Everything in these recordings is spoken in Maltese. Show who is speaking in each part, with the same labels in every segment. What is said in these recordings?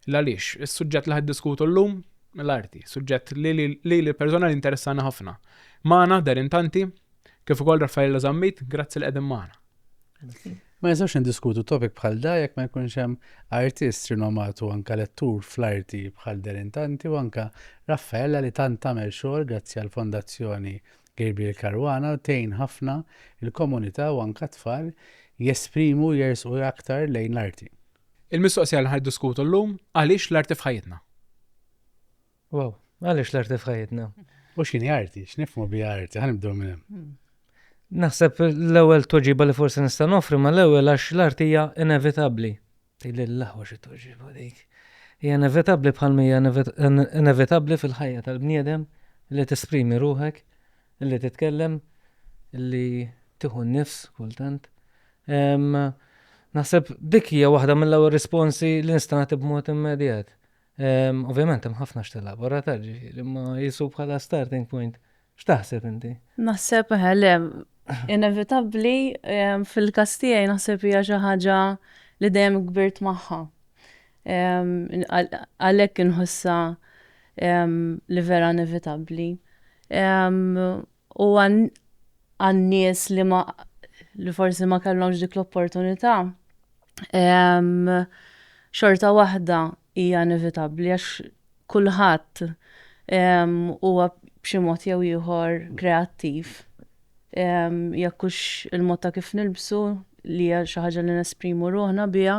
Speaker 1: L-għaliex, is-suġġett li ħaddiskutu llum l-arti, suġġett li li li persona li interessana ħafna. Maħna, Darin Tanti, kif ukoll Raffaella Zammit, grazzi li qegħdin maħna. Ma nistgħux indiskutu topic bħal da jekk ma jkunx hemm artist rinomat u anke lettur fl-arti bħal Derin Tanti u anke Raffaella li tant tagħmel xogħol grazzi għall-Fondazzjoni Gabriel Caruana u tgħin ħafna l-komunità u anke t-tfal jesprimu u jersqu aktar lejn l-arti. Il-mistoqsija li ħa niddiskutu llum, għaliex l-arti f'ħajjitna? Wow, għaliex l-arti f'ħajjitna? U x'inhi arti? X'nifhmu bi arti? Ħanibdew minn hemm. Hmm. Naħseb l-ewwel toġiba li forsi nista' nofri ma l-ewwel għax l-arti hija inevitabbli. Tili l-aħwa xi toġiba dik. Hija inevitabbli bħal mija inevitabbli fil-ħajja tal-bniedem li tesprimi ruħek, li titkellem, li tieħu n-nifs kultant. Naħseb dik hija waħda mill-ewwel risponsi li nista' nagħti b'mod immedjat. Ovvjament hemm ħafna x'telabora ta' ġifieri, imma jisu bħala starting point. X'taħseb inti? Naħseb eh, le, inevitabbli fil-każ tiegħi naħseb hija xi ħaġa li dejjem kbirt magħha. Għalhekk inħossha li vera inevitabbli. U għan-nies li ma li forsi ma kellhomx dik l-opportunità, xorta waħda hija inevitabbli għax kulħadd huwa b'xi mod jew ieħor kreattiv. Jekk hux il-mod ta' kif nilbsu li hija xi ħaġa li nesprimu ruħna biha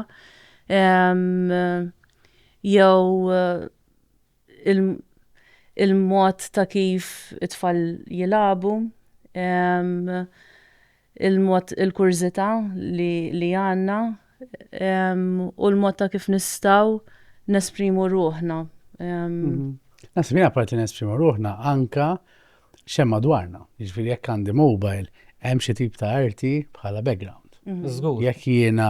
Speaker 1: jew il-mod ta' kif it-tfal jilagħbu, il-mod il-kurżità li għandna u l-mod ta' kif nistgħu nesprimu ruħna. Naħseb jien apparti nesprimu ruħna anke x'hemm madwarna. Jiġifieri jekk għandi mobile hemm xi tip ta' arti bħala background. Żgur. Jekk jiena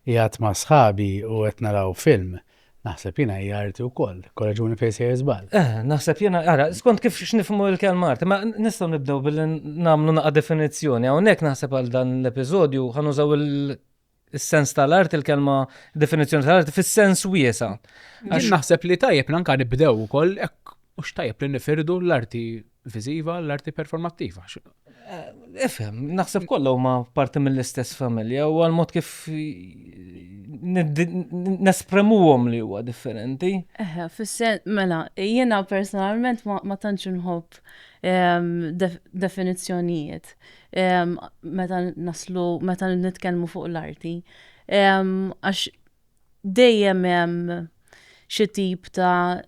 Speaker 1: qiegħed ma' sħabi u qed naraw film Naħseb jiena hija arti wkoll, korreġuni fejn sejjer żball. Eh, naħseb jiena, ara, skont kif x'nifhmu l-kelma arti, ma nistgħu nibdew billi nagħmlu naqa' definizzjoni. Hawnhekk naħseb għal dan l-episodju ħanużaw il-sens tal-art, il-kelma definizzjoni tal-art fis-sens wiesa. Għax naħseb li tajjeb nanka nibdew ukoll hekk mhux tajjeb li nifirdu l-arti viżiva, l-arti performattiva. Ifhem, naħseb kollha huma parti mill-istess familja u għal-mod kif nespremuhom li huwa differenti. Eħe, fis-sen, mela, jiena personalment ma tantx inħobb ehm, definizzjonijiet ehm, meta naslu, meta nitkellmu fuq l-arti. Ehm, għax dejjem hemm xi tip ta'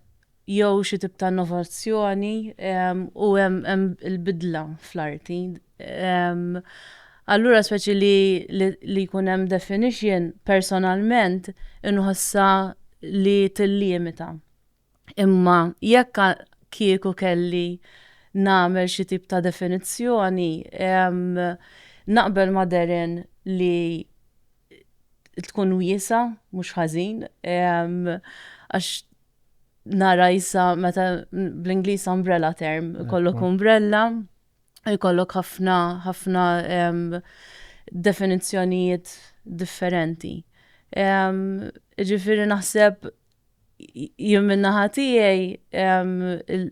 Speaker 1: jew xi tip ta' innovazzjoni u hemm il-bidla fl-arti. Allura speċi li li jkun hemm definition personalment inħossha li tillimita. Imma jekk kieku kelli nagħmel xi tip ta' definizzjoni naqbel ma' Darren li tkun wiesgħa mhux ħażin għax nara jissa meta bl-Inglis umbrella term, kollok umbrella, kollok ħafna ħafna definizzjonijiet differenti. Ġifiri naħseb jien minna ħatijaj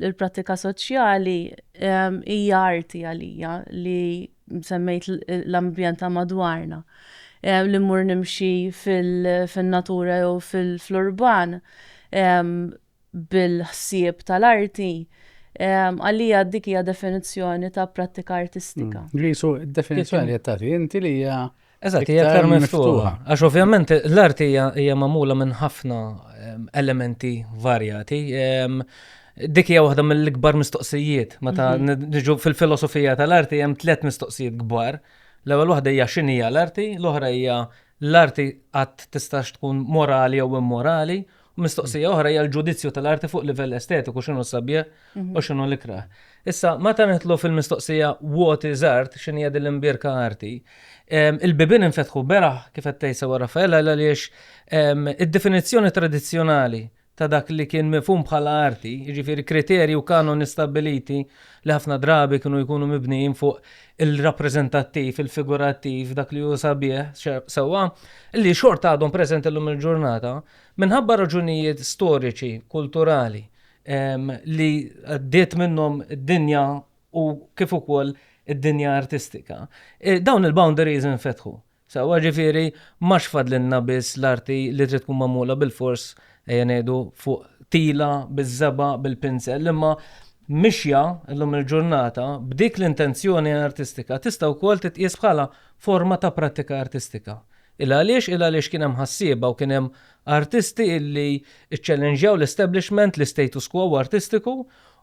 Speaker 1: il-pratika soċjali hija arti għalija li semmejt l-ambjent ta' madwarna, li mmur nimxi fin-natura jew fl-urban bil-ħsieb tal-arti, għalija dik hija definizzjoni ta' prattika artistika. Qisu d-definizzjoni li qed tagħti inti li hija Eżatt, hija aktar miftuħa. Għax ovvjament l-arti hija magħmula minn ħafna ehm, elementi varjati. Ehm, dik hija waħda mill-ikbar mistoqsijiet. Meta mhm. niġu fil-filosofija tal-arti hemm tliet mistoqsijiet kbar. L-ewwel waħda hija x'inhi l-arti, l-oħra hija l-arti qatt tistax tkun morali jew immorali, U mistoqsija oħra hija l-ġudizzju tal-arti fuq livell estetiku x'inhu s-sabiħ mhm. u x'inhu l-ikrah. Issa, meta nitlu fil-mistoqsija what is art, x'inhi hija din l-imbierka arti, il-bibin infetħu beraħ kif qed tgħid sewa Raffaella għaliex id-definizzjoni tradizzjonali ta' dak li kien mifhum bħala arti, jiġifieri kriterji u kanon istabiliti li ħafna drabi kienu jkunu mibnijin fuq il-rappreżentattiv, il-figurattiv, dak li hu sabiħ sewwa, li xort għadhom preżenti llum il-ġurnata, Minħabba raġunijiet storiċi, kulturali, li għaddiet minnhom id-dinja u kif ukoll id-dinja artistika, dawn il-boundaries infetħu. Sewwa, ġifieri m'għax fadlilna biss l-arti li trid tkun magħmula bilfors, ejja ngħidu, fuq tila, biż-żebgħa, bil-pinsell, imma mixja llum il-ġurnata b'dik l-intenzjoni artistika tista' wkoll titqies bħala forma ta' prattika artistika, Il għaliex, il għaliex kien hemm ħassieba u kien hemm artisti illi ċċellenġjaw l-establishment, l-istatus quo artistiku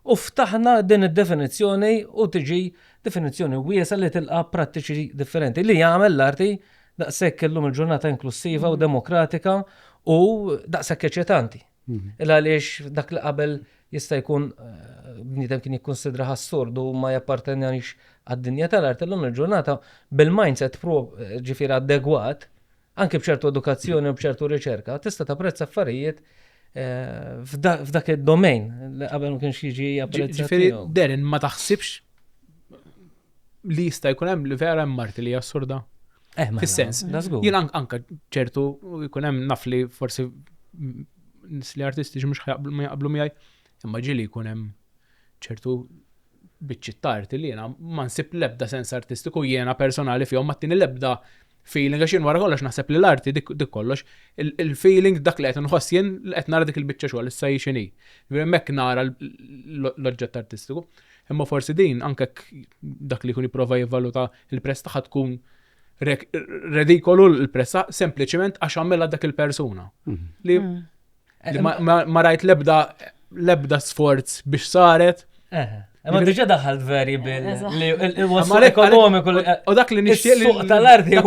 Speaker 1: u ftaħna din id-definizzjoni u tiġi definizzjoni wiesgħa li tilqa' prattiċi differenti li jagħmel l-arti daqshekk illum il-ġurnata inklussiva u demokratika u daqshekk eċitanti. Il għaliex dak li qabel jista' jkun bniedem kien jikkunsidrah assurd u ma jappartenjanix għad-dinja tal-art illum il-ġurnata bil-mindset ġifieri adegwat, anki b'ċertu edukazzjoni u b'ċertu riċerka, tista' tapprezza affarijiet f'dak id-domain li qabel ma kienx jiġi apprezzat. Ġifieri Darren ma taħsibx li jista' jkun hemm li vera hemm marti li assurda? Eh, mela, Fis-sens. da żgur. Jien ank- anka ċertu jkun hemm naf li forsi mm, nis li artistiċi mhux ħajaqblu- ma jaqblu miegħi, imma ġieli jkun hemm ċertu biċċiet ta' arti li jiena ma nsib l-ebda sens artistiku jiena personali fihom ma tieni l-ebda feeling għax jien wara kollox naħseb li l-arti dik, dik kollox il- il-feeling dak li qed inħoss jien li qed nara dik il-biċċa xogħol issa hi x'inhi. Ġifieri Hemmhekk nara l- l- l-oġġett artistiku. Imma forsi din anke jekk dak li jkun jipprova jivvaluta Il-prezz tagħha tkun redikolu l-prezza sempliċement għax għamela dak il-persuna. Mhm. Li mhm. ma rajt lebda lebda sforz biex saret. Ma diġa daħal veri bil li waslu ekonomiku. U dak li nixtieq li. Suq tal-arti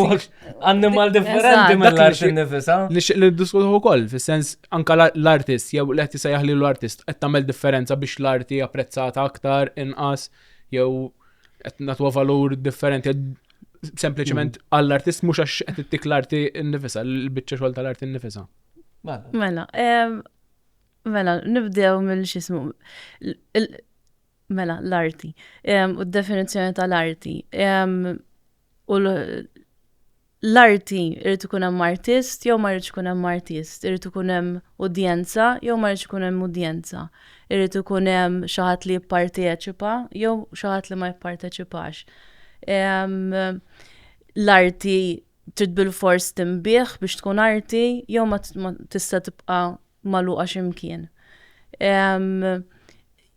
Speaker 1: animal differenti mill-arti nifisa. Nixtieq li diskutu ukoll, fis-sens anka l-artist, jew l-qed jisajjaħ li l-artist qed tagħmel differenza biex l-arti apprezzata aktar inqas. jew qed nagħtuha valur differenti sempliċement mm. għall-artist mhux għax qed ittik l-arti nnifisha, l-biċċa xogħol tal-arti nnifisha. Mela. Mela, mela, nibdew mill-xismu. Mela, l-arti. U d-definizzjoni tal-arti. U l-arti, irid ikun hemm artist jew ma jridx ikun hemm artist, irid ikun hemm udjenza jew ma jridx ikun hemm udjenza, irid ikun hemm xi ħadd li jipparteċipa jew xi ħadd li ma jipparteċipax. L-arti trid bilfors tinbiegħ biex tkun arti jew ma tista' tibqa' magħluqa xi mkien.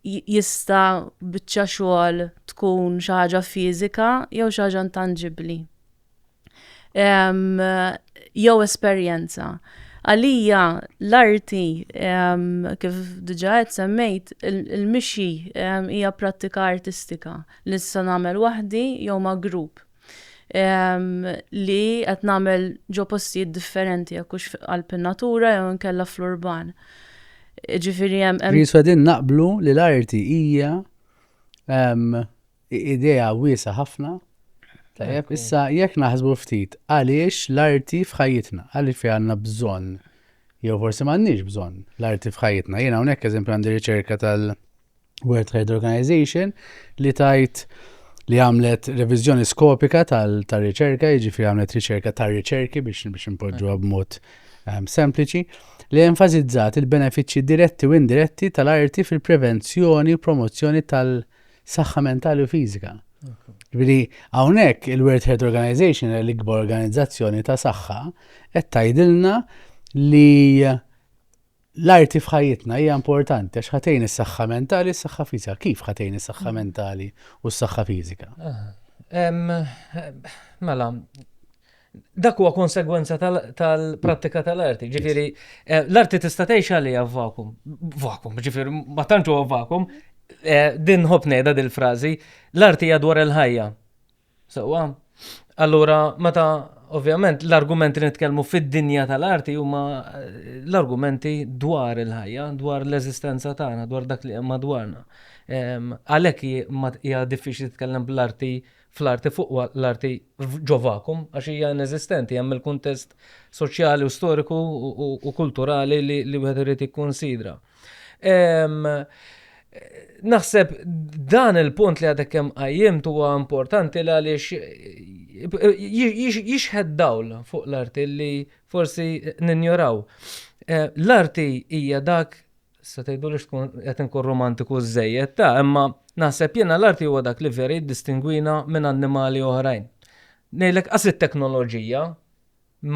Speaker 1: Jista' biċċa xogħol tkun xi ħaġa fiżika jew xi ħaġa intanġibbli. jew esperjenza. Għalija l-arti kif diġà qed semmejt il-mixi hija prattika artistika li nista' nagħmel waħdi jew ma' grupp li qed nagħmel ġo postijiet differenti jekk hux f'qalb in-natura jew inkella fl-urban. Ġifieri hemm. Ġifieri qegħdin naqblu li l-arti hija Idea wiesa' ħafna. Tajjeb, issa jekk naħsbu ftit għaliex l-arti f'ħajjitna, għaliex fiha għandna bżonn jew forsi m'għandniex bżonn l-arti f'ħajjitna. Jiena hawnhekk eżempju għandi riċerka tal-World Trade Organization li tajt li għamlet reviżjoni skopika tal-riċerka, jiġifieri għamlet riċerka tar-riċerki biex biex impoġġuha b'mod ehm, sempliċi li enfasizzat il-benefiċċji diretti u indiretti tal-arti fil-prevenzjoni u promozzjoni tal-arti Saħħa mentali u fiżika. Ġifieri hawnhekk il-World Health Organization l-ikbar organizzazzjoni ta' saħħa qed tgħidilna li l-arti f'ħajjitna hija importanti għax ħatejn is-saħħa mentali, s-saħħa fiżika. Kif ħatejn is-saħħa mm. mentali u s-saħħa fiżika? Mela, Dak huwa konsegwenza tal-prattika tal-arti. Ġifieri, eh, l-arti tista' tgħix għalija vakum. Vakum, ġifieri, ma tantx huwa vakum. Eh, din ħobb ngħidha dil-frażi, l-arti hija dwar il-ħajja. Sewwa. Allura, meta ovvjament l-argumenti li nitkellmu fid-dinja tal-arti huma eh, l-argumenti dwar il-ħajja, dwar l-eżistenza tagħna, dwar dak li hemm madwarna. Ehm, għalhekk hija diffiċli titkellem bl-arti fl-arti fuq l-arti ġo vakum, għax hija ineżistenti, hemm il-kuntest soċjali u storiku u kulturali li wieħed irid jikkunsidra. Naħseb dan il-punt li għadek kemm qajjim huwa importanti li għaliex jixħed dawl fuq l-arti li forsi ninjoraw. L-arti hija dak Se tgħiduli x'tkun qed inkun romantiku żżejjed ta', imma naħseb jiena l-arti huwa dak li vera jiddistingwina minn annimali oħrajn. Ngħidlek qas it-teknoloġija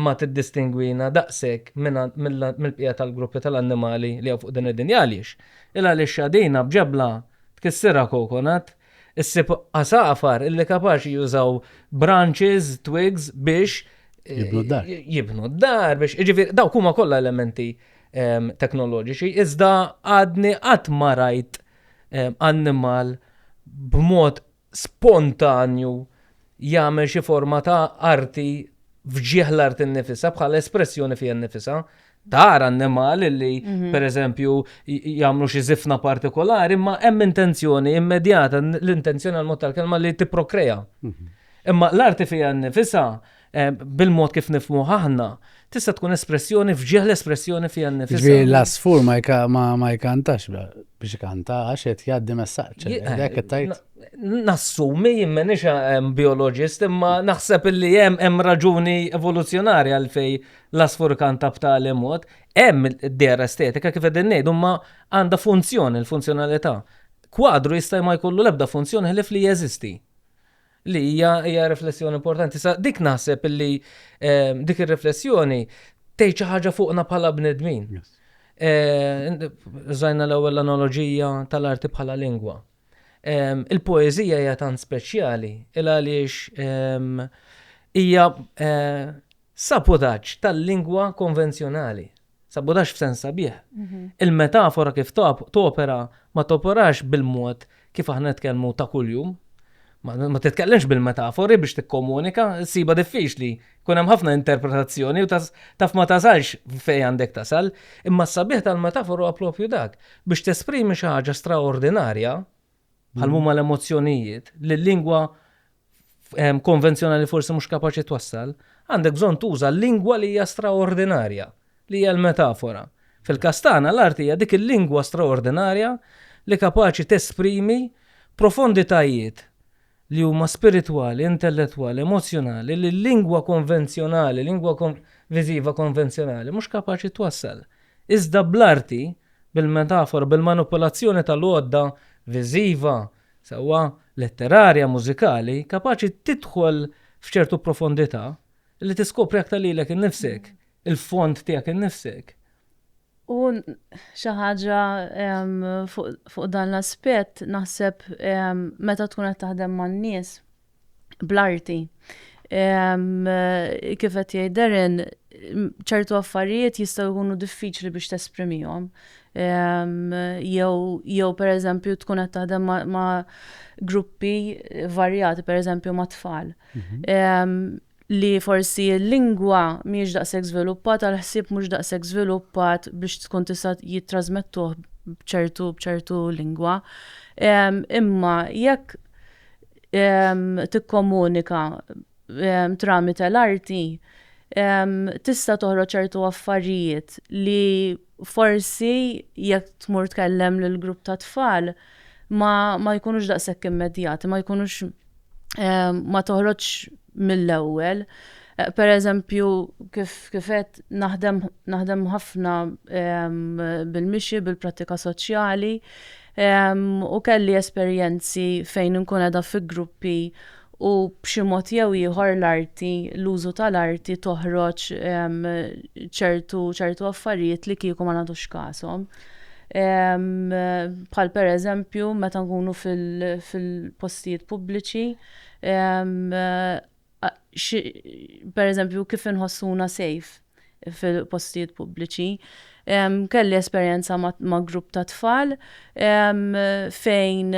Speaker 1: ma tiddistingwina daqshekk mill-bqija tal-gruppi tal-annimali li hawn fuq din id-dinja għaliex? Il-għalixxa dina b'ġebla tkissirha coconut Issib għasafar illi kapaċi jużaw branches, twigs biex eh, jibnu d-dar. Jibnu d-dar biex iġifieri dawk huma kollha elementi ehm, teknoloġiċi iżda għadni qatt ma rajt ehm, annimal b'mod spontanju jagħmel xi forma ta' arti fġieħ l-art innifisha bħala espressjoni fija nnifisha. tara n-nemal li mhm. per eżempju jagħmlu xi zifna partikolari, imma hemm intenzjoni immedjata, l-intenzjoni għal mod tal-kelma li tipprokreja. Mhm. Imma l-arti fija nifisa eh, bil-mod kif nifmu aħna, tista' tkun espressjoni fġieħ l-espressjoni fija nifisa. Ġi l-asfur ma jkantax biex kanta għax qed jgħaddi messaġġ. Eh, nassumi jimmen ixa biologist imma naħseb illi hemm hemm raġuni evoluzzjonarja għalfej l-asfurkanta b'tali mod, hemm dera estetika kif qegħdin ngħidu ma għandha funzjoni, l-funzjonalità. Kwadru jista' ma jkollu l-ebda funzjoni ħlief li jeżisti. Li hija hija riflessjoni importanti. Sa dik naħseb li ehm, dik ir-riflessjoni tgħid xi ħaġa fuqna bħala bnedmin. Eh, żajna l-ewwel analoġija tal-arti bħala lingwa. Ehm, il-poeżija hija tant speċjali il għaliex ehm, hija eh, Sabotaġġ tal-lingwa konvenzjonali. Sabotaġġ f'sens sabiħ. Il-metafora kif topera ma toperax bil-mod kif aħna nitkellmu ta' kuljum. Ma titkellimx bil-metafori biex tikkomunika, issibha diffiċli. Jkun hemm ħafna interpretazzjoni u taf ma tasalx fejn għandek tasal. Imma s-sabiħ tal-metafora huwa proprju dak, biex tesprimi xi ħaġa straordinarja, bħal huma l-emozzjonijiet, li l-lingwa konvenzjonali forsi mhux kapaċi twassal, għandek bżonn tuża l-lingwa li hija straordinarja, li hija l-metafora. Fil-kastana l-art hija dik il-lingwa straordinarja li kapaċi tesprimi profonditajiet li huma spiritwali, intellettwali, emozzjonali li l-lingwa konvenzjonali, lingwa viżiva konvenzjonali, mhux kapaċi twassal. Iżda bl-arti, bil-metafora, bil-manipulazzjoni tal-għodda viżiva, sewwa letterarja, mużikali, kapaċi tidħol f'ċertu profondità li tiskopri aktar lilek innifsek, il-fond tiegħek innifsek. U xi ħaġa fuq dan l-aspett naħseb meta tkun qed taħdem man-nies bl-arti. Kif qed jgħid Darren, ċertu affarijiet jistgħu jkunu diffiċli biex tesprimihom. Jew pereżempju tkun qed taħdem ma' gruppi varjati, pereżempju ma' tfal. Mhm. li forsi l-lingwa mhijiex daqshekk żviluppata, l-ħsieb mhux daqshekk żviluppat biex tkun tista' jittrażmettuh b'ċertu b'ċertu lingwa. Imma jekk tikkomunika tramite l-arti tista' toħroġ ċertu affarijiet li forsi jekk tmur tkellem lil grupp ta' tfal ma, ma jkunux daqshekk immedjati, ma jkunux ehm, ma toħroġ mill-ewwel. Eh, per eżempju, kif kifet naħdem, naħdem ħafna bil-mixi, bil-pratika soċjali, u kelli esperjenzi fejn nkun edha fi gruppi u b'xi mod jew ieħor l-arti, l-użu tal-arti toħroġ ċertu ċertu affarijiet li kieku ma nagħtux kashom. Bħal pereżempju meta nkunu fil-postijiet pubbliċi pereżempju kif inħossuna safe fil-postijiet pubbliċi. Kelli esperjenza ma' grupp ta' tfal fejn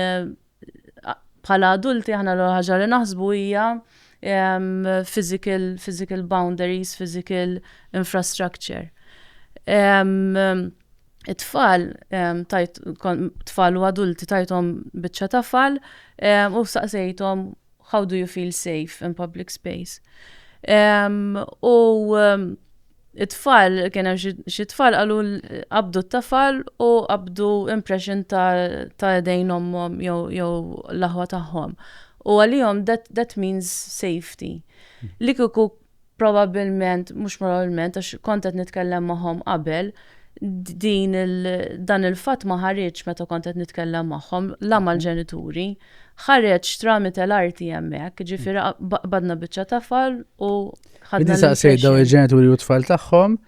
Speaker 1: bħala adulti aħna l-ewwel ħaġa li naħsbu hija physical boundaries, physical infrastructure. It-tfal tajt tfal u adulti tajthom biċċa tafal u staqsejthom how do you feel safe in public space. U It-tfal, kien hemm xi tfal qalu qabdu t-tafal u qabdu impression ta' idejn ommhom jew l-aħwa tagħhom. U għalihom that means safety. Li kieku probabbilment, mhux probabbilment għax kont qed nitkellem magħhom qabel, din dan il-fatt ma ħareġx meta kont qed nitkellem magħhom, la mal-ġenituri. Ħareġ tramite l-arti hemmhekk, jiġifieri qbadna biċċa tafal u ħadna saqsejt daw il-ġenituri u tfal tagħhom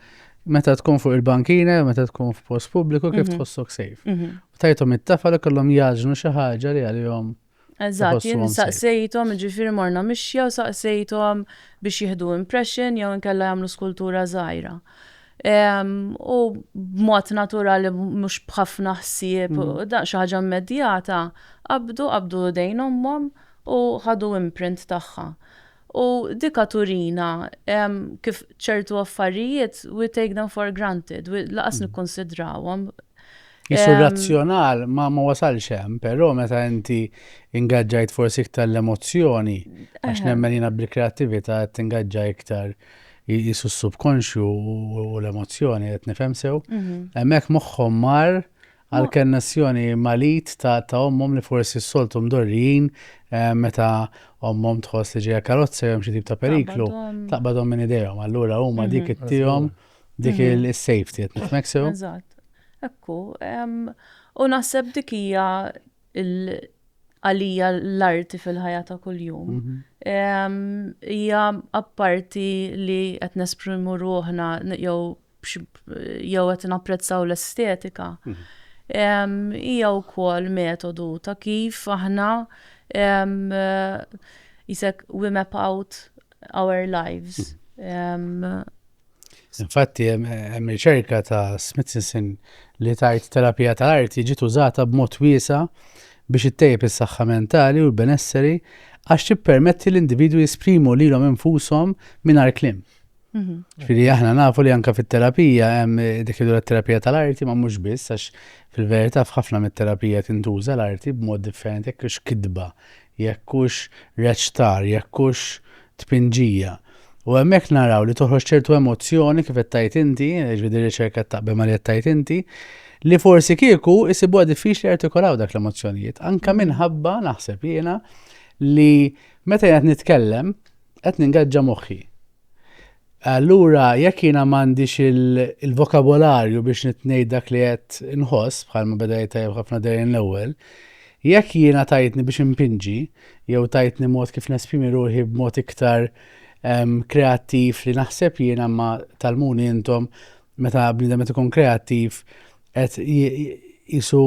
Speaker 1: meta tkun fuq il-bankina, meta tkun f'post pubbliku kif mhm. tħossok sejf. Mhm. Tajtom it-tafal kollhom jaġnu xi ħaġa li għalihom Eżatt, jien saqsejtom, ġifiri morna mixja u saqsejtom biex jihdu impression jew inkella jagħmlu skultura żgħira. U b'mod naturali mhux b'ħafna ħsieb, mm. da xi ħaġa immedjata, qabdu qabdu dejn ommhom u ħadu imprint tagħha. U dika turina kif ċertu affarijiet we take them for granted, laqas mm. nikkonsidrawhom. Jisu razzjonal ma ma wasalx hemm, però meta inti ingaġġajt forsi iktar l-emozzjoni, għax nemmen jina bil-kreativita qed ingaġġa iktar jisu s-subkonxju u l-emozzjoni qed nifhem sew, mhm. hemmhekk moħħhom mar għall-kannessjoni mal-id ta' ommhom li forsi s-soltu mdorrijin meta ommhom tħoss li ġejja karozza jew hemm xi tip ta' periklu, taqbadhom minn idejhom. Allura huma dik ittihom dik is-safety qed nifhmek sew? Eżatt. Ekku. U naħseb dik hija għalija l-arti fil-ħajja ta' kuljum. Hija apparti li qed nesprimu ruħna jew jew qed napprezzaw l-estetika, hija wkoll metodu ta' kif aħna jisek we map out our lives. Infatti, hemm riċerka ta' Smithson li tajt terapija ta' arti ġiet użata b'mod wiesa biex ittejjeb is-saħħa mentali u l-benesseri għax tippermetti l-individwi jesprimu lilhom infushom mingħajr kliem. Ġifieri aħna nafu li anke fit-terapija hemm dik li terapija tal-arti ma mhux biss għax fil-verità f'ħafna mit-terapija tintuża l-arti b'mod differenti jekk hux kitba, jekk hux reċtar, jekk hux tpinġija. U hemmhekk naraw li toħroġ ċertu emozzjoni kif qed tajt inti, ġvidi riċerka taqbel ma li qed tajt inti, li forsi kieku isibuha diffiċli artikolaw dak l-emozzjonijiet. Anka minħabba naħseb jiena li meta jgħat nitkellem, Qed ningaġġa moħħi. Allura jekk jiena m'għandix il-vokabolarju biex nitngħid dak li qed inħoss bħalma beda jtajjeb ħafna dejjem l-ewwel, jekk jiena tajtni biex impinġi jew tajtni mod kif nesprimi ruħi b'mod iktar ehm, kreattiv li naħseb jiena ma talmuni intom meta bniedem qed ikun kreattiv qed jisu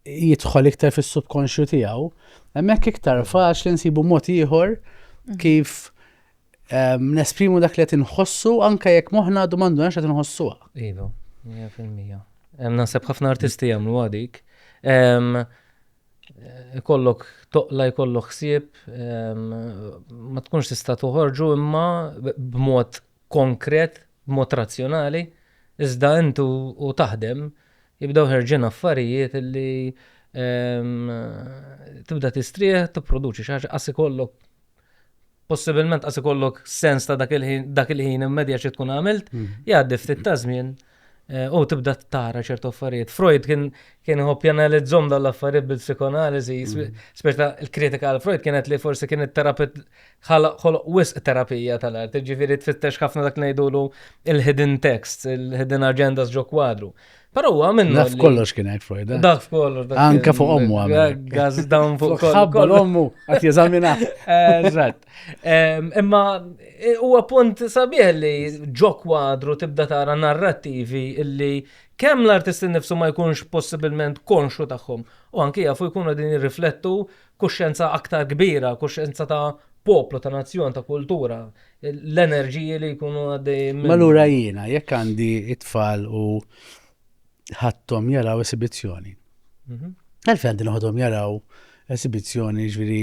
Speaker 1: jidħol iktar fis-subkonxju tiegħu, hemmhekk iktar faċli nsibu mod ieħor mhm. kif ehm, nesprimu dak li qed inħossu anke jekk moħħna għadu m'għandu qed inħossuha. Iva, 100%. Ehm, naħseb ħafna artisti jagħmlu għadik. Ehm, eh, kollok toqla jkollok ħsieb ma tkunx tista' toħorġu imma b'mod konkret, b'mod razzjonali, iżda int u taħdem jibdew ħerġin affarijiet li tibda tistrieħ, tipproduċi xi ħaġa, qas ikollok possibilment qas ikollok sens ta' dak il-ħin immedjat xi tkun għamilt, jgħaddi ftit ta' żmien U tibda tara ċertu affarijiet. Freud kien kien iħobb janalizzhom dawn l-affarijiet bil-psikoanaliżi, speċta l-kritika għal Freud kienet li forsi kien it-terapit ħoloq wisq terapija tal-art, ġifieri tfittex ħafna dak ngħidulu il-hidden texts, il-hidden agendas ġo kwadru. Però huwa minnu. Daf kollox kien hekk Freud. Eh? Daf kollox. Anka fuq ommu għamil. Gaz dawn fuq kollox. Ħabba l-ommu għat jeżamina. Eżatt. Imma huwa punt sabiħ li ġo kwadru tibda tara narrattivi illi kemm l-artisti nifsu ma jkunx possibilment konxu tagħhom u anki jafu jkunu din jirriflettu kuxjenza aktar kbira, kuxjenza ta' poplu, ta' nazzjon, ta' kultura, l-enerġiji li jkunu għaddej. Malura jiena, jekk għandi it-tfal u ħadthom jaraw esibizzjoni. Mhm. Għalfejn għandi noħodhom jaraw esibizzjoni ġviri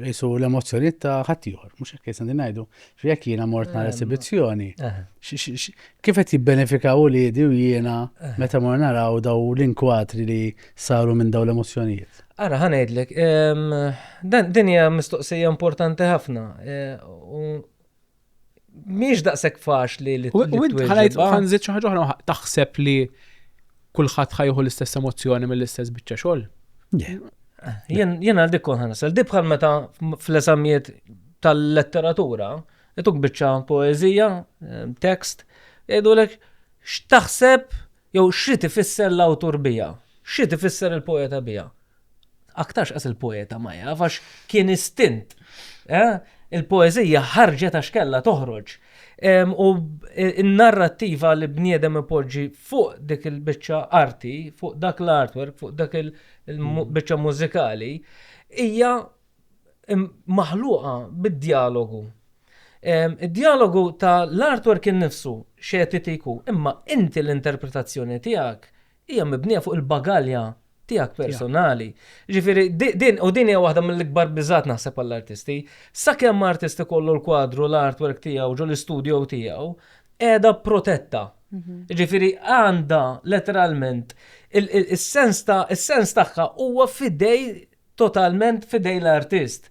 Speaker 1: jisu l-emozjoni ta' ħattijħor, mux jek jisan din najdu, ġviri jek jena mort nar ehm, esibizzjoni, eh. kif qed jibbenefikaw u li u jena eh. meta mor naraw daw l-inkwatri li saru minn daw l-emozjonijiet? Ara, ħanajdlek, ehm, dan dinja mistoqsija importanti ħafna eh, Mhix daqshekk faċli li twieġeb. Ħanżid xi ħaġa oħra taħseb li kulħadd ħajħu l-istess emozzjoni mill-istess biċċa xogħol. Jien għal dik kont ħanasel. Di bħal meta fl-eżamijiet tal-letteratura, ituk biċċa poeżija, eh, tekst, jgħidulek x'taħseb Jew x'ried ifisser l-awtur biha? X'ried ifisser il-poeta biha? Aktarx qas il-poeta ma jaf għax kien istint. Il-poeżija ħarġet għax kellha toħroġ. U n-narrattiva li bniedem ipoġġi fuq dik il-biċċa arti, fuq dak l-artwork, fuq dak il-biċċa mużikali, hija maħluqa bid-djalogu. Id-djalogu ta' l-artwork innifsu xetitiku, imma inti l-interpretazzjoni tiegħek hija mibnija fuq il-bagalja tiegħek personali. Jiġifieri din, u din hija waħda mill-ikbar biżgħat naħseb għall-artisti, sakemm artist ikollu l-kwadru, l-artwork tiegħu ġo l-istudio tiegħu, qiegħda protetta. Jiġifieri għandha letteralment, is-sens tagħha huwa f'idej totalment f'idejn l-artist.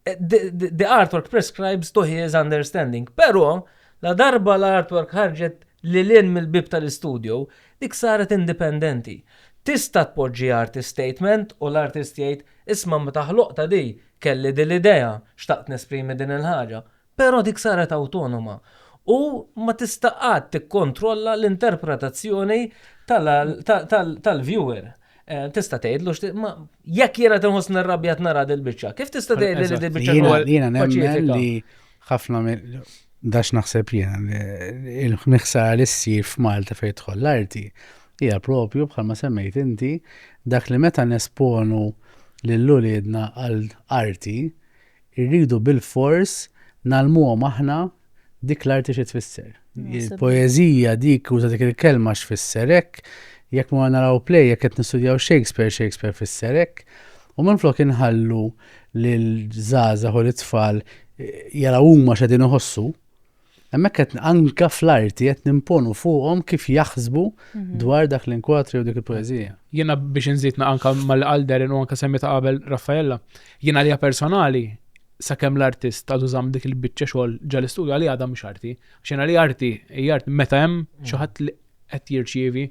Speaker 1: The artwork prescribes to his understanding. Però, ladarba l-artwork ħarġet lil hinn mill-bieb tal-istudju, dik saret indipendenti. Tista' tpoġġi artist statement u l-artist jgħid, 'Isma' meta ħloqtha di, kelli din l-idea, xtaqt nesprimi din il-ħaġa. Però dik saret awtonoma u ma tista' qatt tikkontrolla l-interpretazzjoni tal-viewer. Tista' tgħidlu x'trid, ma jekk jiena qed inħossni rrabjat nara dil-biċċa, kif tista' tgħidli li dil-biċċa kienet paċifika? Jiena nemmen li ħafna minn dan x'naħseb jiena, l-ħsara li ssir f'Malta fejn tidħol l-arti hija proprju bħalma semmejt inti dak li meta nesponu lil uliedna għal arti Irridu bilfors ngħallmuhom aħna dik l-arti xi tfisser. Il-poeżija dik uża dik il-kelma x'fisser hekk, jekk morna naraw play, jekk qed nistudjaw Shakespeare, Shakespeare fisser hekk. U minflok inħallu lil żgħażagħ u lit-tfal jaraw huma x'qegħdin iħossu, Hemmhekk qed anke fl-arti qed nimponu fuqhom kif jaħsbu mhm. dwar dak l-inkwatri u dik il-poeżija. Jiena biex inżidna anke mal-qalderin u anke semmita qabel Raffaella, jiena li personali sakemm l-artist ta' tużam dik il-biċċa xogħol ġal-istudju għalli għadha mhux arti. Xena li arti, hija arti meta hemm xi ħadd li qed jirċievi.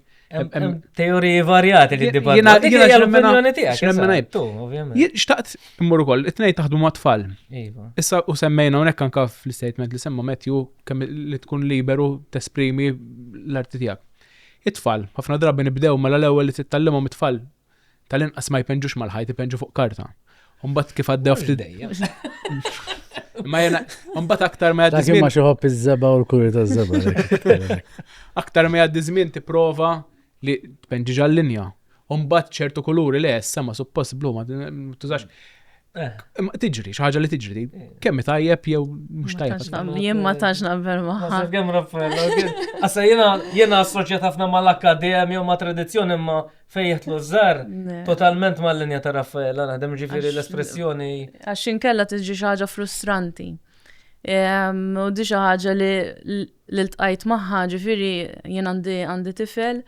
Speaker 1: Teoriji varjati li dibattu. Dik hija l-opinjoni tiegħek. Xtaqt immur ukoll, it-tnejn taħdu ma' tfal. Iva. Issa u semmejna hawnhekk anke fl-istatement li semma Matthew kemm li tkun liberu tesprimi l-arti tiegħek. It-tfal, ħafna drabi nibdew mela l-ewwel li tittallimhom it-tfal Tal-inqas ma jpenġux mal-ħajt, jpenġu fuq karta. Umbat kif għaddew fl-idejja. Ma jena, umbat aktar ma jaddi zmin. Ma xoħob iż-żeba u l-kuri ta' żeba. Aktar ma jaddi zmin ti prova li tpenġi ġal-linja. Umbat ċertu kuluri li essa ma suppost blu ma tużax. Tiġri, xaħġa li tiġri. Kemmi tajjeb jew mux tajjeb. Jien ma taġ naqbel maħħa. Kemm Raffaella, għassa jena jena assoċjat ħafna ma l-akkadem jew ma tradizzjoni ma fejjet l żar totalment ma l-linja ta' Raffaella, naħdem ġifiri l-espressjoni. Għaxin kella tiġi xaħġa frustranti. U di xaħġa li li ltqajt magħha, ġifieri jien għandi għandi tifel,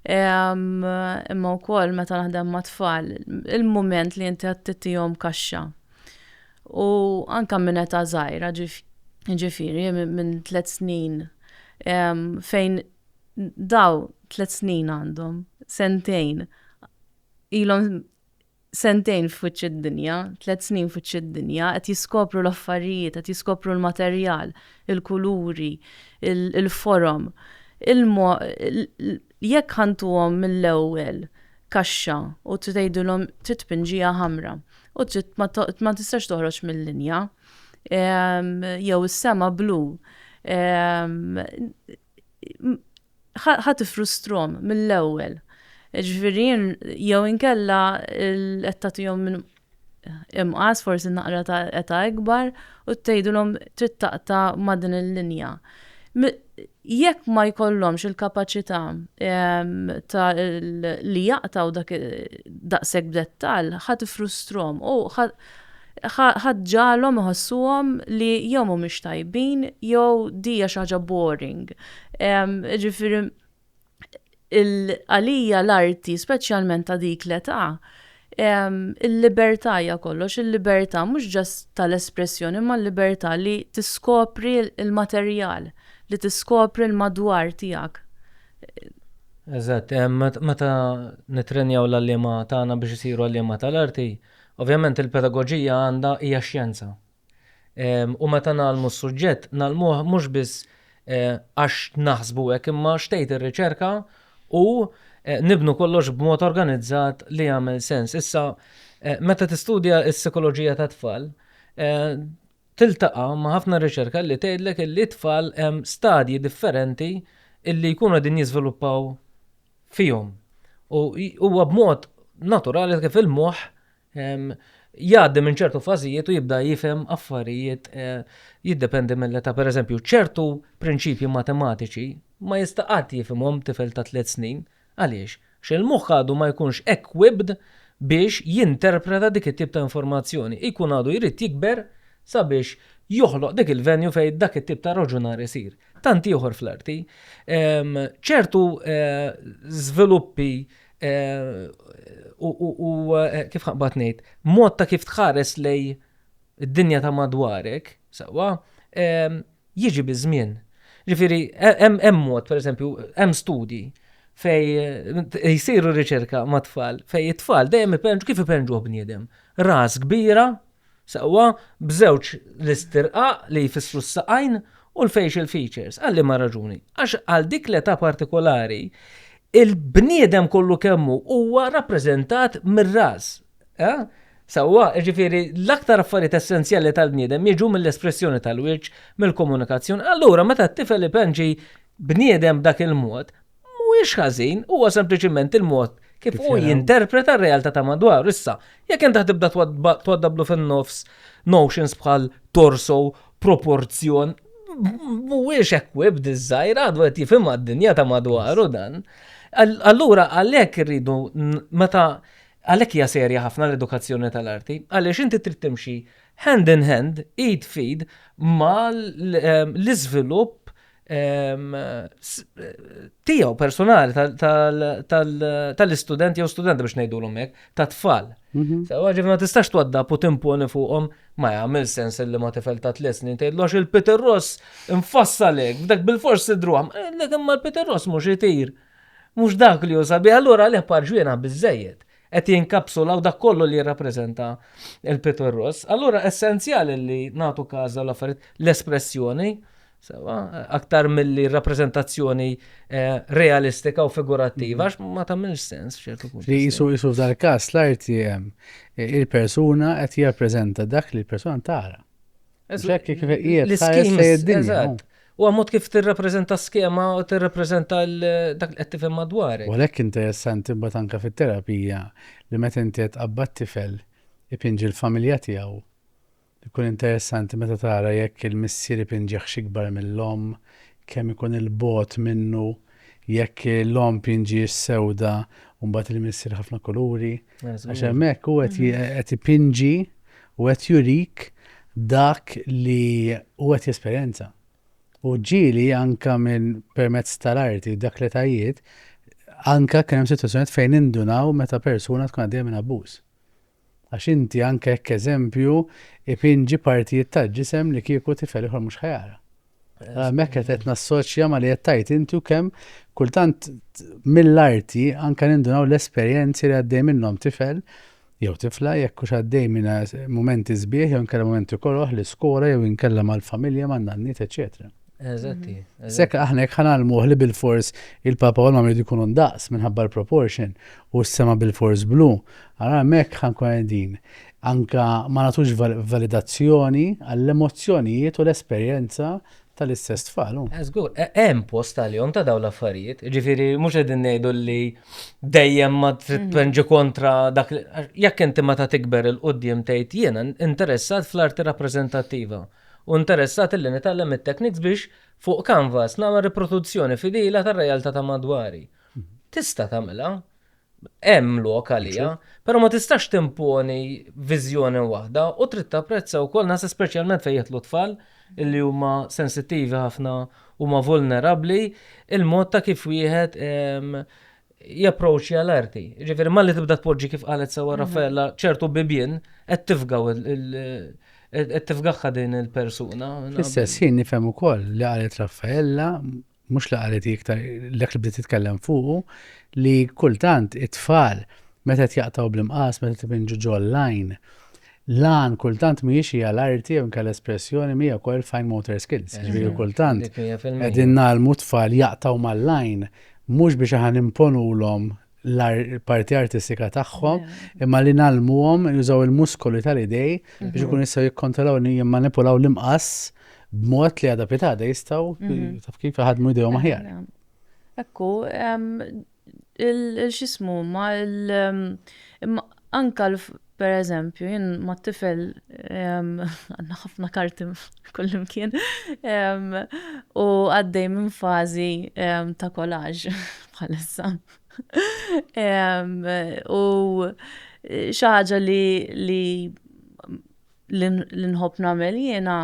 Speaker 1: imma wkoll meta naħdem ma' tfal, il-mument li inti għattitihom kaxxa. U anka minn età żgħira, ġifieri minn tliet snin, fejn daw tliet snin għandhom, sentejn, ilhom Sentejn f'wiċċ id-dinja, tliet snin f'wiċċ id-dinja, qed jiskopru l-affarijiet, qed jiskopru l-materjal, il-kuluri, il-forom. Jekk ħa ntuhom mill-ewwel kaxxa u trid tgħidilhom trid tpinġiha ħamra u trid ma tistax toħroġ mil-linja, jew is-sema blu, ħa tifrustrom mill-ewwel. Ġifieri jew inkella qed tagħtihom minn imqas forsi naqra ta' età ikbar u tgħidulhom trid taqta' ma' din il-linja. Jekk ma jkollhomx il-kapaċità ta' li jaqtgħu daqshekk b'dettall, ħa tifrustrom u Ħadd ġagħalhom iħossuhom li jew mhumiex tajbin jew di hija xi ħaġa boring. Jiġifieri għalija l-arti, speċjalment ta' dik l-età, il-libertà hija kollox, il-libertà mhux ġast tal-espressjoni imma l-libertà li tiskopri l-materjal, li tiskopri l-madwar tiegħek. Eżatt. Meta nittrenjaw l-għalliema tagħna biex isiru għalliema tal-arti, Ovvjament il-pedagoġija għandha hija xjenza. U meta ngħallmu s-suġġett, ngħallmuh mhux biss għax naħsbu hekk imma x'tgħid ir-riċerka u nibnu kollox b'mod organizzat li jagħmel sens. Issa meta tistudja s-sikoloġija tat-tfal, tiltaqa' ma' ħafna riċerka li tgħidlek illi t-tfal hemm stadji differenti illi jkunu qegħdin jiżviluppaw fihom. U huwa b'mod naturali kif il-moħħ jgħaddi minn ċertu fażijiet u jibda jifhem affarijiet eh, jiddependi mill-età. Per eżempju, ċertu prinċipji matematiċi ma jista' qatt jifhimhom tifel ta' tliet snin. Għaliex? Xil moħħ għadu ma jkunx equipped biex jinterpreta dik it-tip ta' informazzjoni. Ikun għadu jrid jikber sabiex joħloq dik il-venju fej dak it-tip ta' raġunar isir. tant ieħor fl-arti, ċertu żviluppi u kif ħaqbad ngħid, mod ta' kif tħares lej id-dinja ta' madwarek, sewwa, jiġi biż-żmien. Ġifieri, hemm mod, pereżempju, hemm studji fej jisiru riċerka ma' tfal, fej it-tfal dejjem ipenġu kif ipenġu bniedem. Ras kbira, Sewwa, b'żewġ l-istirqaq li jfissru s-saqajn u l-facial features. Għal liema raġuni? Għax għal dik l-età partikolari, il-bniedem kollu kemm hu huwa rappreżentat mir-ras. Eh? Sewwa, jiġifieri l-aktar affarijiet essenzjali tal-bniedem jiġu mill-espressjoni tal-wiċċ, mill-komunikazzjoni. Allura meta t-tifel ipenġi bniedem b'dak il-mod, Mhuwiex ħażin, huwa sempliċiment il-mod kif hu jinterpreta r-realtà ta' madwaru. Issa, jekk int tibda twaddabblu fin-nofs notions bħal torso, proporzjon, mhuwiex equipped iż-żgħir, għadu qed jifhimha d-dinja ta' madwaru dan. Allura għalhekk irridu meta għalhekk hija serja ħafna l-edukazzjoni tal-arti, għaliex inti trid timxi hand in hand, id f'id mal-iżvilupp tiegħu personali tal-istudenti jew studenti biex ngħidulhom hekk, ta' tfal. Mhm. Sewa ġifna ma tistax twadda u timponi fuqhom ma jagħmel sens li ma tifel ta' tliet snin tgħidlu il-Peter Ross infassalek, dak bil-fors sidruhom, eh, lek imma l-Peter Ross mhux itir. Mhux dak li jusa bi, allura le parġwiena biżejjed qed jinkapsula u dak kollu li jirrappreżenta il-Peter Ross. Allura essenzjali li nagħtu każa l-affarijiet l-espressjoni Sewa, aktar milli rappreżentazzjoni eh, realistika u figurattiva, għax ma tagħmilx sens f'ċertu punt. Li jisu jisu f'dal każ l-arti eh, il-persuna qed jirrappreżenta dak li l-persuna tara. Ġekk kif qiegħed tħares lejn id-dinja. U għamot kif tirrappreżenta skema u tirrappreżenta dak li qed tifhem madwarek. U lek interessanti mbagħad anke fit-terapija li meta inti qed qabbat tifel ipinġi l-familja tiegħu Ikun interessanti meta tara jekk il-missier ipinġihx ikbar mill-omm, kemm ikun il-bogħod minnu, jekk l-omm pinġihiex sewda u mbagħad il-missier ħafna kuluri. Għax hemmhekk hu qed ipinġi u qed jurik dak li hu qed jesperjenza. U ġieli anke minn permezz tal-arti dak l-etajiet, anke kien hemm sitwazzjonijiet fejn nindunaw meta persuna tkun għaddejja minn abbuż. Għax inti anke hekk eżempju ipinġi partijiet tal-ġisem li kieku tifel ieħor mhux ħa jara. Hemmhekk qed qed nassoċja ma li qed tgħid inti u kemm kultant mill-arti anke nindunaw l-esperjenzi li għaddej minnhom tifel jew tifla jekk hux għaddej minn mumenti sbieħ jew inkella mumenti koroħ l-iskola jew inkella mal-familja man-nanniet eċetera. Eżatti. Mhm. Sekk aħna jekk ħanalmuh li bil-fors il-papa u l-mamri jkunu ndaqs minħabba l-proportion u s-sema bil-fors blu, għara mek ħankun għedin. Anka ma natux validazzjoni għall-emozzjonijiet u l-esperjenza tal-istess tfal. Eżgur, e, hemm post għal-jom ta' dawn l-affarijiet, ġifiri mhux qegħdin ngħidu li dejjem ma trid mhm. tpenġi kontra dak jekk inti ma ta' tikber il-qudiem tgħid jiena interessat fl-arti rappreżentattiva. u interessat li nitgħallem it-techniques biex, fuq canvas, nagħmel riproduzzjoni fidila tar-realtà ta' madwari. Tista' tagħmilha, hemm lok għaliha, però ma tistax timponi viżjoni waħda u trid tapprezza wkoll, naħseb speċjalment fejn jidħlu t-tfal li huma sensittivi ħafna, huma vulnerabbli, il-mod ta' kif wieħed, japproċċja l-arti. Ġifieri malli tibda tpoġġi kif qalet sewwa mhm. Raffaella ċertu bibien qed tifgaw qed tifgħha din il-persuna. Fis-sess jien nifhem ukoll li qalet Raffaella mhux li qalet iktar lek li bdiet titkellem fuqu li kultant it-tfal meta qed jaqtaw bl-imqas meta tibinġu ġol-lajn L-għan kultant mhijiex hija l-arti jew inkella espressjoni mija wkoll fine motor skills. Jiġifieri kultant qegħdin ngħallmu t-tfal jaqtgħu mal-lajn mhux biex aħna nimponulhom l-parti artistika tagħhom imma li ngħallmuhom jużaw il-muskoli tal-idej biex ikunu jistgħu jikkontrollaw u jimmanipulaw l-imqass b'mod li għada pitada jistgħu taf kif iħaddmu jdejhom aħjar. Ekku, il-xismu, ma anka per eżempju, jien ma tifel għanna ħafna karti kullimkien u għaddej minn fazi ta' collage bħalissa. U xi ħaġa li nħobb nagħmel jiena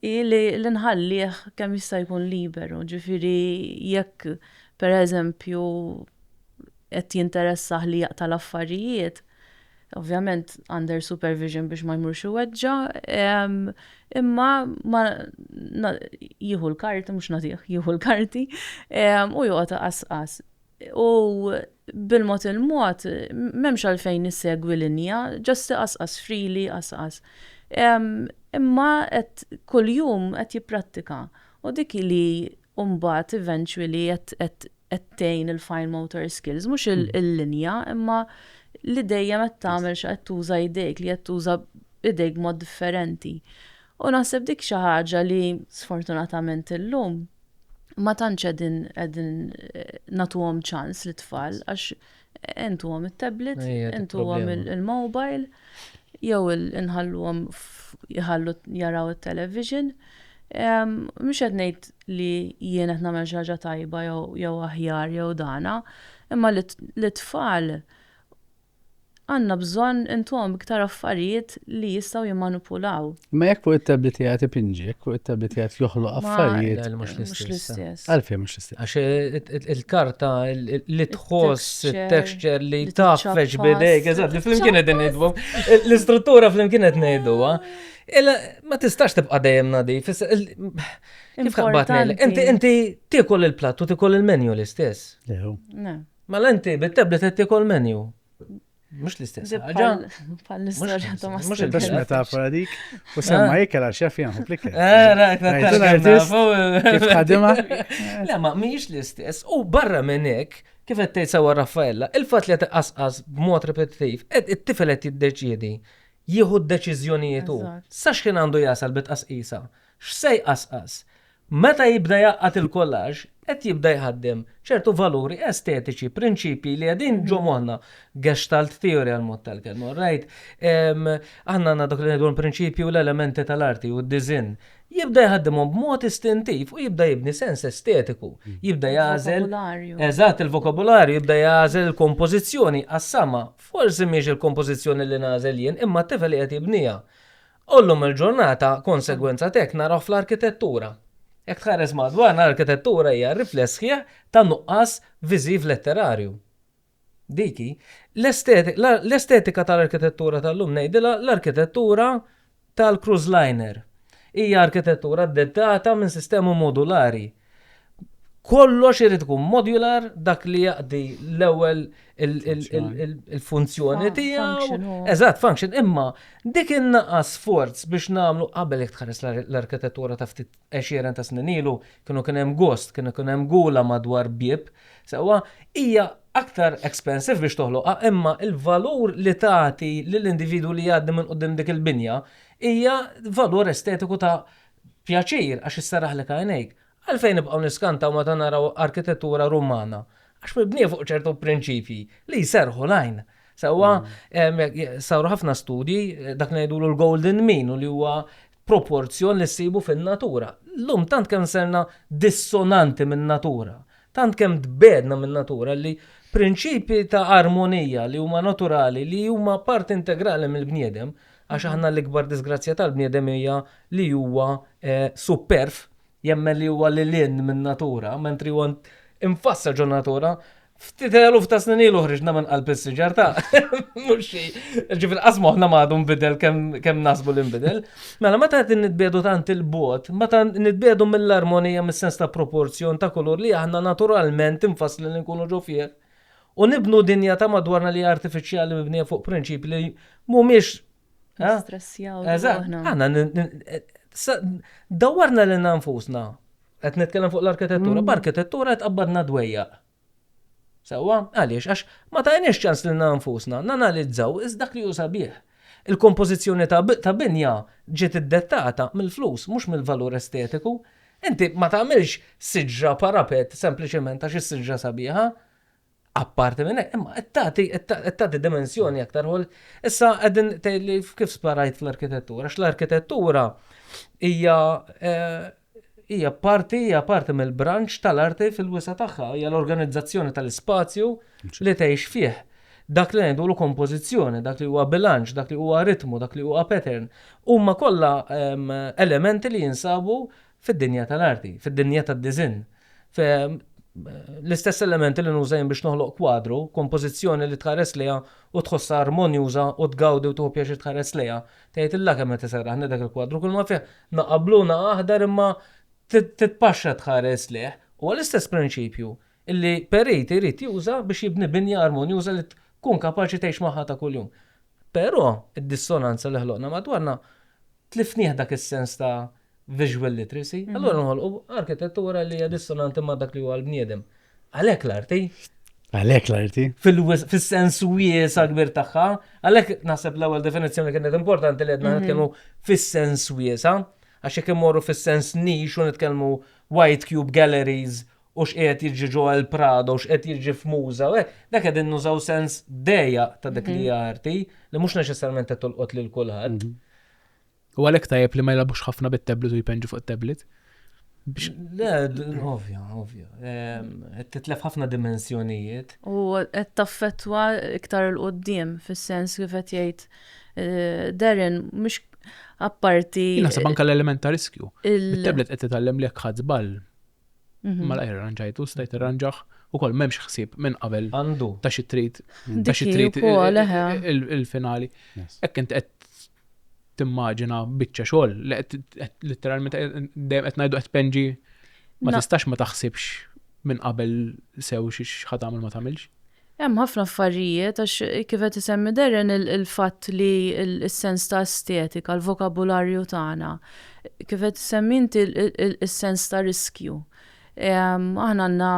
Speaker 1: hi li nħallih kemm jista' jkun liberu, ġifieri jekk pereżempju qed jinteressah li jaqta' l-affarijiet, ovvjament under supervision biex ma jmurx iweġġa', imma ma jieħu l-karti, mhux nagħtih, jieħu l-karti u joqgħod iqasqas. U bil-mod il-mod, m'hemmx għalfejn issegwi linja, just iqasqas, freely iqasqas. Imma qed kuljum qed jipprattika. U dik hi li mbagħad eventually qed tgħin il-fine motor skills, mhux il-linja, imma li dejjem qed tagħmel xi qed tuża idejk, li qed tuża idejk b'mod differenti. U naħseb dik xi ħaġa li sfortunatament illum ma tantx qegħdin qegħdin nagħtuhom ċans lit-tfal għax intuhom it-tablet, intuhom il-mobile, jew inħalluhom jħallu jaraw it-television. Mhux qed ngħid li jien qed nagħmel xi ħaġa tajba jew aħjar jew dana, imma lit-tfal Għandna bżonn intuhom iktar affarijiet li jistgħu jimmanupulaw. Imma jekk fuq it-tablet qiegħed ipinġi, jekk fuq it-tablet qiegħed joħloq affarijiet. Le, mhux l-istess. Għalfejn mhux l-istess? Għax il-karta li tħoss, it-texture li tgħaffex b'idejk, eżatt, li flimkien qegħdin ngħidu. L-istruttura flimkien qed ngħiduha. Illa ma tistax tibqa' dejjem nadif. Kif taqbad ngħidlek? Inti tiekol il-platt u tiekol il-menju l-istess. Le. Mela inti bit-tablet qed tiekol menu. Mhux l-istess ħaġa. Bħall-istorja ta' ma Mhux il-biex metafora dik. U semma eh? ikel għax jaf jaħu fl-ikel. Kif ħadima? Le ma mhijiex l-istess. U barra minn hekk, kif qed tgħid sewwa Raffaella, il-fatt li qed iqasqas b'mod repetittiv, it-tifel qed jiddeċiedi jieħu d-deċiżjonijiet hu. Sax kien għandu jasal bit qasqisa. X'se jqasqas? Meta jibda jgħaqqad il-collage, qed jibda jħaddem ċertu valuri estetiċi, prinċipji li qegħdin ġo moħħna. Gestalt theory għal mod tal-kelma, all right? Aħna għandna dak li ngħidu l-prinċipji u l-elementi tal-arti u d-disinn. Jibda jħaddimhom b'mod istintiv u jibda jibni sens estetiku. Jibda jagħżel. Eżatt, il-vokabularju jibda jagħżel il-kompożizzjoni għas-sama. Forsi mhix il-kompożizzjoni li nagħżel jien, imma t-tifel li qed jibniha. U llum il-ġurnata, konsegwenza t'hekk naraw fl-arkitettura. Jekk tħares madwarna, l-arkitettura hija r-rifless sħiħ ta' nuqqas viżiv letterarju. Dik hi. L-estetika tal-arkitettura tal-lum ngħidilha l-arkitettura tal-cruise liner. Hija arkitettura dettata minn sistema modulari, kollox irid ikun modular dak li jaqdi l-ewwel il-funzjoni tiegħu. Eżatt, function, imma dik in-naqas sforz biex nagħmlu qabel jekk tħares l-arkitettura ta' ftit għexieren ta' snin ilu, kienu kien hemm gost, kienu kien hemm gula madwar bieb, sewwa hija aktar expensive biex toħloqha imma l-valur li tagħti lill-individwu li jgħaddi minn quddiem dik il-binja hija valur estetiku ta' Pjaċir, għax isserraħlek għajnejk. Għalfejn nibqgħu niskantaw meta naraw arkitettura Rumana? Għax mibnija fuq ċertu prinċipji li jserrħu l-għajn. Sewwa, saru ħafna studji, dak li ngħidulu l-golden mean u li huwa proporzjon li ssibu fin-natura. Llum tant kemm serna dissonanti min-natura, tant kemm tbegħedna min-natura li prinċipji ta' armonija li huma naturali li huma parti integrali mill-bniedem Għax aħna l-ikbar diżgrazzja tal-bniedem hija li huwa supperv, jemmen li huwa lil hinn min-natura, mentri huwa imfassal ġo natura, ftit eluf ta' snin ilu ħriġna minn qalb is-siġar ta' mhux xi. Ġifieri qas moħħna m'għadu nbidel kemm nasbu li nbidel. Mela meta qed nitbiedu tant il-bogħod, meta nitbiedu mill-armonija mis-sens ta' proporzjon ta' kulur li aħna naturalment imfasslin li nkunu ġo fih, u nibnu dinja ta' madwarna li artifiċjali mibnija fuq prinċipi li mhumiex Stressjaw. Għana, dawarna li nanfusna. Qed nitkellem fuq l-arkitettura, mm. b'arkitettura qed qabbadna dwejja. Sawa, għaliex, għax ma tajniex ċans li nanfusna, nanalizzaw, iż dak li ju sabiħ. Il-kompożizzjoni ta' binja ġiet iddettata mill-flus, mhux mill-valur estetiku. Inti ma tagħmilx siġra parapet sempliċement għax is-siġra sabiħa. Apparti minn hekk, imma qed tagħti qed tagħti dimensjoni aktar għolja. Issa qegħdin tgħidli kif sparajt fl-arkitettura, għax l-arkitettura hija hija parti, hija parti mill-branċ tal-arti fil-wisa' tagħha, hija l-organizzazzjoni tal-ispazju li tgħix fih. Dak li ngħidulu kompożizzjoni, dak li huwa bilanċ, dak li huwa ritmu, dak li huwa pattern, huma kollha elementi li jinsabu fid-dinja tal-arti, fid-dinja tad-diżinn. L-istess elementi li nuża jien biex noħloq kwadru, kompożizzjoni li tħares lejha u tħossha armonjuża u tgawdi u tieħu pjaċir tħares lejha, Tgħidilha kemm qed iserraħni dak il-kwadru, kulma fih naqgħa blu naqgħa aħdar imma titpaxxa tħares lejh. Huwa l-istess prinċipju li perit irid juża biex jibni binja armonjuża li tkun kapaċi tgħix magħha ta' kuljum. Però, id-dissonanza li ħloqna madwarna, tlifnieh dak is-sens ta' visual literacy, allura nħolqu arkitettura li hija dissonanti ma' dak li huwa l-bniedem. Għalhekk l-arti. Għalhekk l-arti. Fis-sens wies akbir tagħha, għalhekk naħseb l-ewwel definizzjoni kienet importanti li għedna mhm. nitkellmu fis-sens wiesa, għax jekk immorru fis-sens nix u nitkellmu White Cube Galleries u x'qiegħed jiġi ġo għal Prado, x'qiegħed jiġi f'muża, u hekk, dak qegħdin nużaw sens dejja ta' dik li mhm. arti li mhux neċessarjament qed tolqot lil kulħadd. Mhm. U għalhekk tajjeb li ma jilabux ħafna bit-tablet u jpenġu fuq it-tablet. Le, ovvja, ovvja. Qed titlef ħafna dimensjonijiet. U qed taffettwa iktar il qoddim fis-sens kif qed jgħid eh, Darren mhux apparti. Naħseb anke l-element ta' riskju. Il-tablet qed titgħallem li jekk ħadd żball Mela irranġajtu, stajt irranġaħ ukoll m'hemmx ħsieb minn qabel Għandu. ta' xi trid ta' xi Dik hi trid wkoll, eħe. il- il-finali. Yes. Hekk int qed timmaġina biċċa xogħol li qed qed litteralment qed- dejjem qed ngħidu qed tpenġi ma Na- tistax ma taħsibx minn qabel sew xi x'ħa tagħmel ma tagħmilx. Hemm ħafna affarijiet għax kif qed isemmi Darren il-fatt li s-sens ta' estetika, l-vokabularju tagħna, kif qed issemmi inti s-sens ta' riskju. Aħna għandna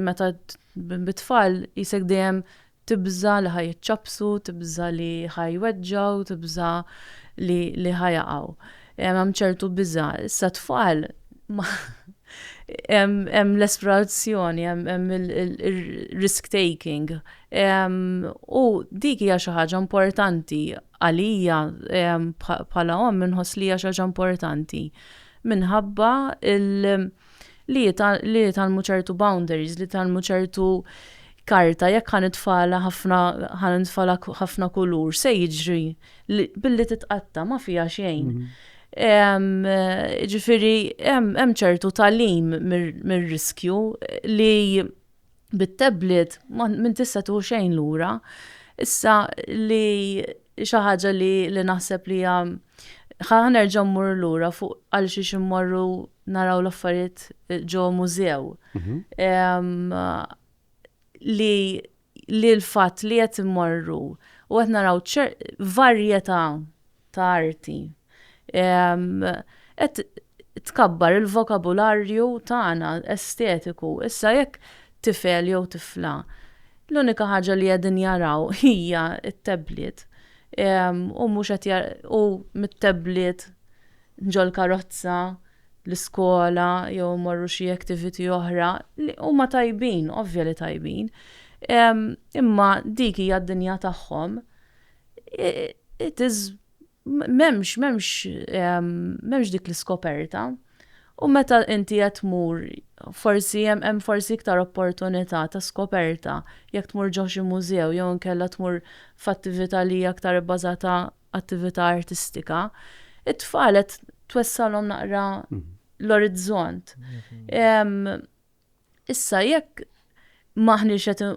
Speaker 1: meta bit-tfal qisek dejjem tibża' li ħa jiċċappsu, tibża' li ħa jweġġgħu, tibża' li ħa jaqgħu. Hemm ċertu biża'. Issa tfal hemm l-esplorazzjoni, hemm il-risk taking. U dik hija xi ħaġa importanti għalija bħala omm inħoss li hija xi ħaġa importanti minħabba li li jitgħallmu ċertu boundaries, li jitgħallmu ċertu karta, jekk ħan itfala ħafna ħan itfala ħafna kulur, se jiġri billi titqatta ma fija xejn. Mhm. Ġifiri, hemm ċertu talim mir-riskju li bit-tablet minn tista' tieħu xejn lura. Issa li xi ħaġa li li naħseb li hija ħanerġa' mmur lura fuq għal xiex immorru naraw l-affarijiet ġo mużew. Mhm. Li li l-fatt li qed immorru u qed naraw varjetà ta' arti. Qed tkabbar il-vokabularju tagħna estetiku. Issa jekk tifel jew tifla l-unika ħaġa li qegħdin jaraw hija t-tablet u mhux qed u mit-tablet ġol-karozza, l-iskola jew imorru xi activity oħra li huma tajbin, ovvja li tajbin. Imma dik hija d-dinja tagħhom. it is m'hemmx m'hemmx m'hemmx dik l-iskoperta. U meta inti qed tmur forsi hemm hemm forsi iktar opportunità ta' skoperta jekk tmur ġo xi mużew jew inkella tmur f'attività li hija aktar ibbażata attività artistika. It-tfal qed twessalhom naqra l-orizzont. Issa jekk maħniex qed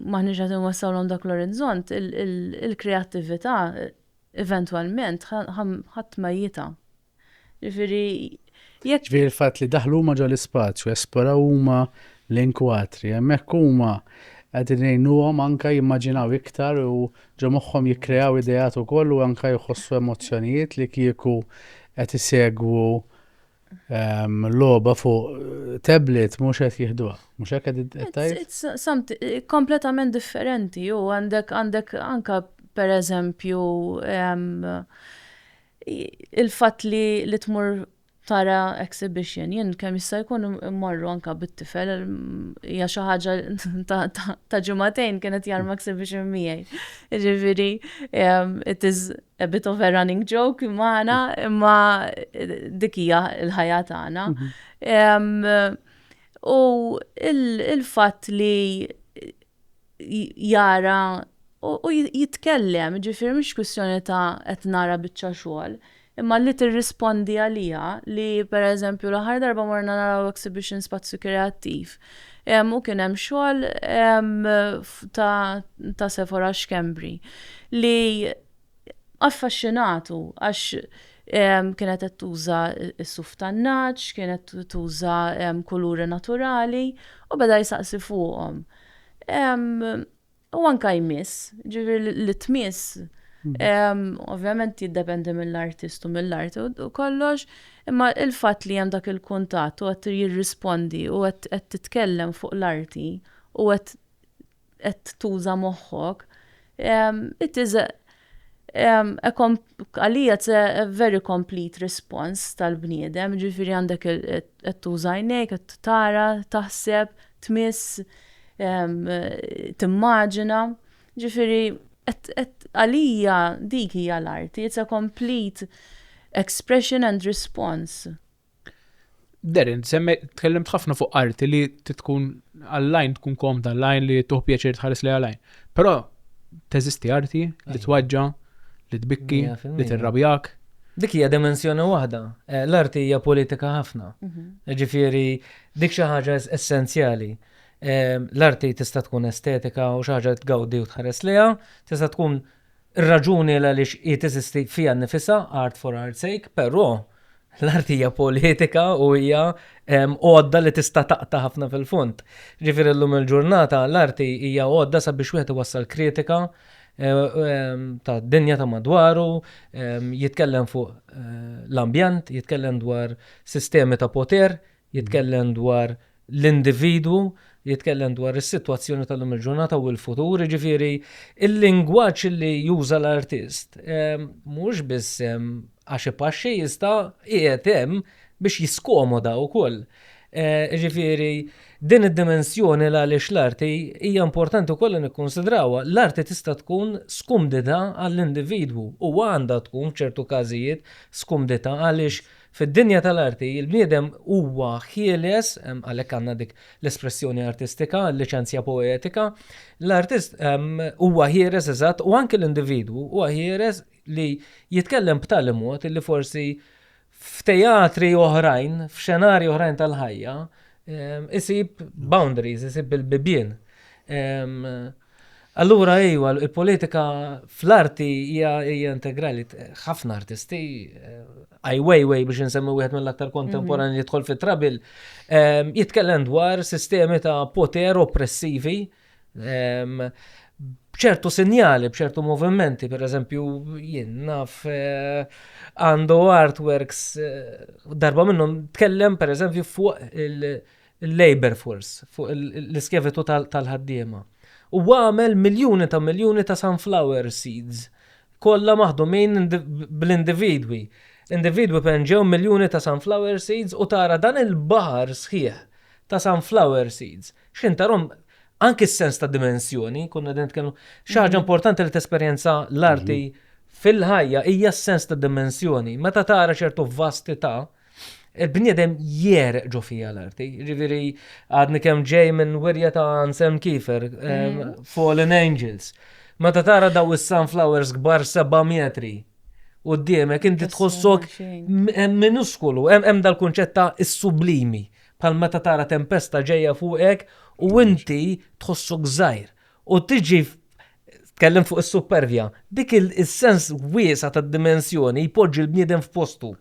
Speaker 1: maħniex qed inwassawlhom dak l-orizzont, il-kreattività eventwalment ħadd ma jita. Ġifieri jekk Ġifieri l-fatt li daħlu huma ġol ispazju, esploraw huma l-inkwatri, hemmhekk huma qegħdin ngħinuhom anke jimmaġinaw iktar u ġo moħħhom jikkreaw ideat ukoll u anke jħossu emozzjonijiet li kieku qed isegwu Loba fuq tablet mhux qed jieħduha. Mhux hekk qed tajjeb? Kompletament differenti u għandek għandek anke pereżempju il-fatt li li tmur tara exhibition. Jien kemm jista' jkun immorru anke bit-tifel hija xi ħaġa ta' ġimagħtejn kien qed jarma exhibition miegħi. Jiġifieri it is a bit of a running joke magħna, imma dik hija l-ħajja tagħna. U il-fatt li jara u jitkellem, ġifir mhix kwistjoni ta' qed nara biċċa xogħol, imma li tirrispondi għalija li pereżempju l-aħħar darba morna naraw exhibition spazju kreattiv Hemm u kien hemm xogħol ta' ta' Sephora Schembri li affaxxinatu għax kienet qed tuża s-suf tan-nagħaġ, kienet tuża kuluri naturali u beda jsaqsi fuqhom. U anka jmiss, ġivir li tmiss, mhm. ovvjament jiddependi mill-artist u mill-art u kollox, imma il-fat li jem dak il-kuntat u għat jirrispondi u għat titkellem fuq l-arti u għat tuża moħħok, it is Għalija it's a very complete response tal-bniedem, ġifiri għandek qed tuża għajnejk, qed tara, taħseb, tmiss, timmaġina. Ġifiri għalija dik hija l-arti, it's a complete expression and response. Darren, semme tkellimt ħafna fuq arti li tkun għall-lajn tkun komda l-lajn li tuħ pjaċir tħares li għall-lajn. Però teżisti arti li twaġġa, li tbikki, li tirrabjak. Dik hija dimensjoni waħda. Eh, l-arti hija politika ħafna. Mhm. Ġifieri dik xi ħaġa essenzjali. Eh, l-arti tista' tkun estetika u xi ħaġa tgawdi u tħares liha, tista' tkun Ir-raġuni għaliex hi teżisti fiha nnifisha, art for art's sake, però l-art hija politika u hija għodda li tista' taqta' ħafna fil-fond. Ġifieri llum il-ġurnata l-arti hija għodda sabiex wieħed iwassal kritika tad-dinja ta' madwaru, jitkellem fuq l-ambjent, jitkellem dwar sistemi ta' poter, jitkellem dwar l-individwu, jitkellem dwar is-sitwazzjoni tal-lum il-ġurnata u l-futur, jiġifieri il-lingwaġġ li juża l-artist mhux biss hemm għax ipaxxi iżda qiegħed hemm biex jiskomoda wkoll. Jiġifieri din id-dimensjoni għaliex l-arti hija importanti wkoll li nikkunsidrawha. L-arti tista' tkun skumdità għall-individwu u għandha tkun f'ċertu każijiet skumdità għaliex Fid-dinja tal-arti, il-bniedem huwa ħieles, għalhekk għandna dik l-espressjoni artistika, liċenzja poetika, l-artist huwa ħieles eżatt u anke l-individwu huwa ħieles li jitkellem b'tali mod li forsi f'tejatri oħrajn, f'xenarji oħrajn tal-ħajja, isib boundaries, isib il-bibien. Allura iva, il-politika fl-arti hija integrali. Ħafna artisti, Ai Weiwei biex insemmi wieħed mill-aktar kontemporanji li jidħol fit-trabil, ehm, jitkellem dwar sistemi ta' poter oppressivi ehm, bċertu sinjali, bċertu movimenti, per eżempju, jien naf eh, għandu artworks eh, darba minnhom tkellem per eżempju fuq il- il-labour force, fuq l-iskjavitu tal-ħaddiema. U għamel miljuni ta' miljuni ta' sunflower seeds, kollha maħdumin bl-individwi. Individwi penġew miljuni ta' sunflower seeds u tara dan il-baħar sħiħ ta' sunflower seeds. X'ħin tarahom anki s-sens ta' dimensjoni, konna qegħdin nitkellmu, xi ħaġa importanti li tesperjenza l-arti fil-ħajja hija s-sens ta' dimensjoni. Meta tara ċertu vastità, il-bniedem jieħreq ġo fija l-arti. Ġifieri għadni kemm ġej minn wirja ta' Anselm Kiefer, mm. Fallen Angels. Meta tara daw is-sunflowers kbar seba' metri u d-diemek inti tħossok minuskulu, hemm dal-kunċett ta' is-sublimi bħal meta tara tempesta ġejja fuqek u inti tħossok żgħir. U tiġi Tkellimt fuq is-supervja. Dik is-sens wiesa' tad-dimensjoni jpoġġi l-bniedem f'postu.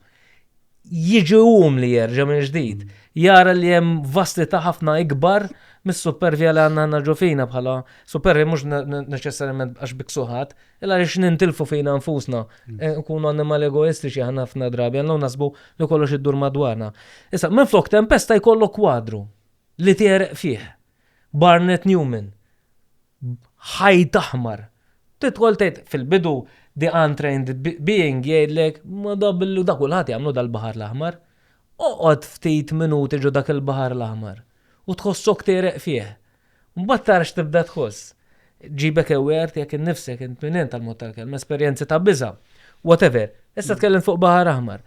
Speaker 1: Jiġi um li jerġa' minn ġdid. Jara li hemm vastità ħafna ikbar mis-supervja li għandna aħna ġo fina bħala supervja mhux neċessarjament għax biksuħat, illa għaliex nintilfu fina nfusna. Nkunu annimali egoistiċi aħna ħafna drabi, għandna u naħsbu li kollox iddur madwarna. Issa, minflok tempesta jkollok kwadru li tegħreq fih. Barnett Newman, b'ħajt aħmar. Tidħol tgħid, fil-bidu the untrained being jgħidlek, ma da billu da kulħadd jagħmlu dal-Baħar l-Aħmar. Oqgħod ftit minuti ġo dak il-Baħar l-Aħmar u tħossok tegħreq fih. Mbagħad tara x'tibda tħoss. Ġibek aware tiegħek innifsek int minn int għall-mod tal-kelma, esperjenzi ta' biża', whatever. Issa tkellimt fuq Baħar Aħmar.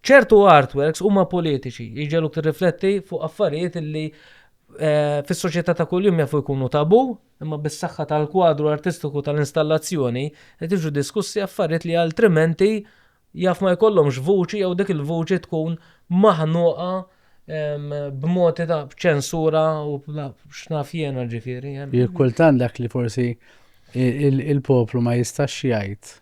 Speaker 1: Ċertu artworks huma politiċi, jġegħluk tirrifletti fuq affarijiet li fis-soċjetà ta' kuljum jafu jkunu tabù, imma bis-saħħa tal-kwadru artistiku tal-installazzjoni qed jiġu diskussi affarijiet li altrimenti jaf ma jkollhomx vuċi jew dik il-vuċi tkun maħnuqa b'mod ta' ċensura u x'naf jiena ġifieri. Jekk kultant dak li forsi il-poplu ma jistax jgħid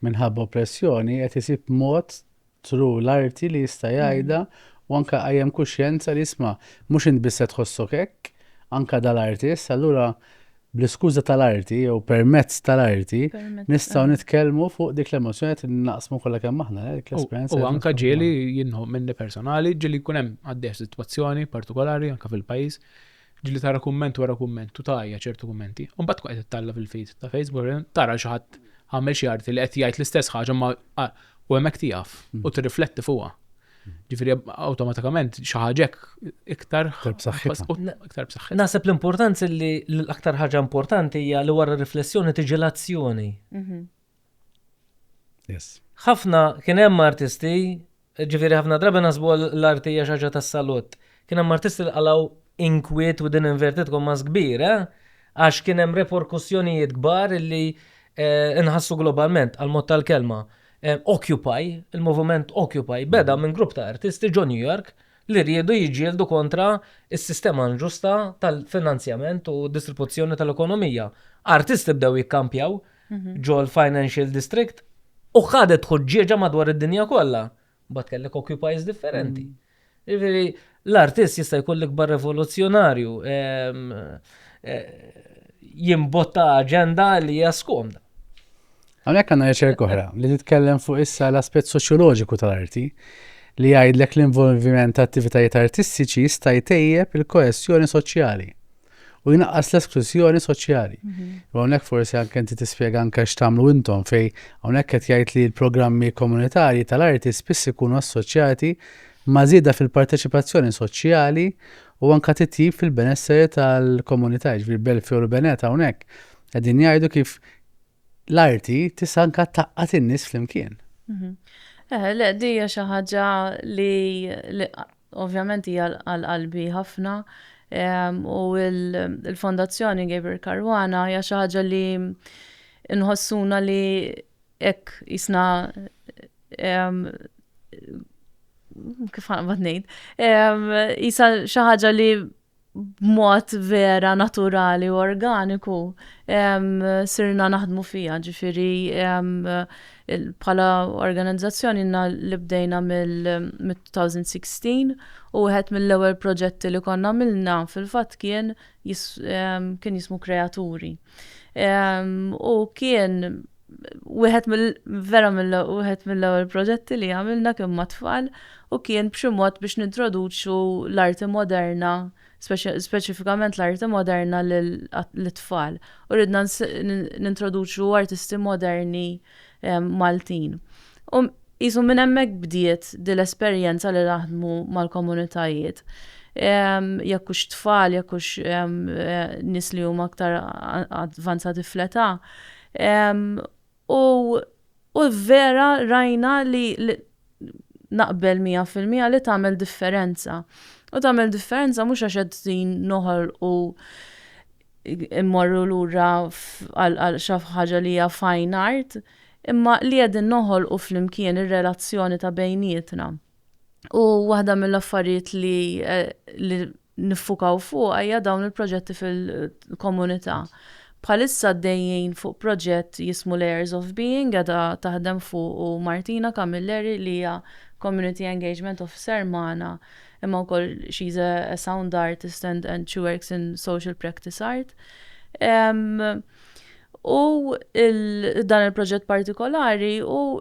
Speaker 1: minħabba oppressjoni qed isib mod True, l-arti li jista' jgħidha u anke qajjem kuxjenza li isma' mhux int biss se tħossok hekk, anke dal-artist, allura bl-iskuża tal-arti jew permezz tal-arti nistgħu nitkellmu fuq dik l-emozzjoni qed naqsmu kollha kemm aħna dik l-esperjenza. U anke ġieli jien minni personali ġieli jkun hemm għaddejja sitwazzjoni partikolari anke fil-pajjiż Ġieli tara kumment wara kumment u tgħajja ċertu kummenti, u mbagħad tkun qed ittalla' fil-feed ta' Facebook tara xi ħadd għamel xi arti li qed jgħid l-istess ħaġa ma u hemmhekk tieqaf u tirrifletti fuqha. Ġifieri awtomatikament xi ħaġa hekk iktar Iktar b'saħħitha. iktar b'saħħitha. Naħseb l-importanza li l-aktar ħaġa importanti hija li wara r-riflessjoni tiġi l-azzjoni. Yes. Ħafna kien hemm artisti, ġifieri ħafna drabi naħsbu l-arti hija xi ħaġa tas-salut. Kien hemm artisti li qalgħu inkwiet within inverted commas kbir, eh? Għax kien hemm reperkussjonijiet kbar li eh, nħassu globalment għal mod tal-kelma. Eh, Occupy, il-moviment Occupy, beda minn grupp ta' artisti ġo New York li riedu jiġġieldu kontra is-sistema inġusta tal-finanzjament u distribuzzjoni tal-ekonomija. Artisti bdew jikkampjaw, ġol Financial District u ħadet ħuġġieġa madwar id-dinja kollha. Bat kellek occupies differenti. Ġifieri l-artist jista' jkun l-ikbar revoluzzjonarju ehm, eh, jimbotta aġenda li hija skomda. Għalhekk għandna riċerka oħra li titkellem fuq issa l-aspett soċjoloġiku tal-arti li jgħidlek l-involviment ta' attivitajiet artistiċi jista' jtejjeb il-koesjoni soċjali. u jnaqqas l-esklużjoni soċjali. Mhm. U hawnhekk forsi anke inti tispjega anke x'tagħmlu intom fej hawnhekk qed jgħid li l-programmi komunitarji tal-arti spiss ikunu assoċjati ma' żieda fil-parteċipazzjoni soċjali u anke titjib fil-benesseri tal-komunità, ġifieri Belfi u l-Beneta hawnhekk. Qegħdin jgħidu kif l-arti tista' anka taqqat in-nies flimkien. Mhm. Eh, le, dija xi ħaġa li ovvjament hija għal qalbi ħafna u l-Fondazzjoni Gabriel Karwana hija xi ħaġa li nħossuna li hekk isna kif ħanqbad ngħid, isa xi ħaġa li b'mod vera naturali u organiku sirna naħdmu fija, ġifiri bħala organizzazzjoni inna li bdejna mill-2016 u wieħed mill-ewwel proġetti li konna għamilna fil-fatt kien kien jismu Kreaturi. U kien wieħed mill vera mill wieħed mill-ewwel proġetti li għamilna kien mat-tfal u kien b'xi mod biex nintroduċu l-arti moderna speċifikament l-arti moderna lit-tfal u ridna nintroduċu artisti moderni Maltin. U qisu minn hemmhekk bdiet din l-esperjenza li naħdmu mal-komunitajiet jekk hux tfal, jekk hux nies li huma aktar avvanzati fl-età, U u vera rajna li naqbel 100% li tagħmel differenza. U tagħmel differenza mhux għax qed din noħol u immorru lura għal xi ħaġa li hija fine art, imma li qegħdin noħolqu flimkien ir-relazzjoni ta' bejnietna. U waħda mill-affarijiet li niffukaw fuqha hija dawn il-proġetti fil-komunità. Bħalissa għaddejjin fuq proġett jismu Layers of Being qiegħda taħdem fuqu Martina Camilleri li hija Community Engagement Officer magħna imma wkoll she is a sound artist and she works in social practice art. U dan il-proġett partikolari u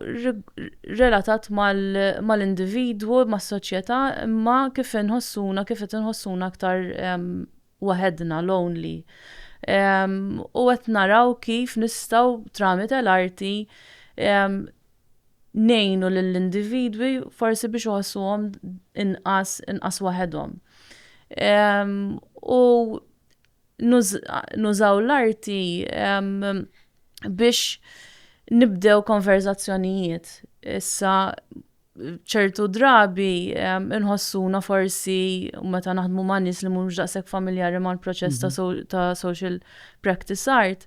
Speaker 1: relatat mal-individwu, mas-soċjetà, imma kif inħossuna, kif qed inħossuna aktar waħedna, lonely. U qed naraw kif nistgħu tramite l-arti ngħinu lill-individwi forsi biex iħossuhom inqas waħedhom. U Nużaw l-arti biex nibdew konverżazzjonijiet. Issa ċertu drabi nħossuna forsi meta naħdmu ma' nies li mhumiex daqshekk familjari mal-proċess ta' social practice art,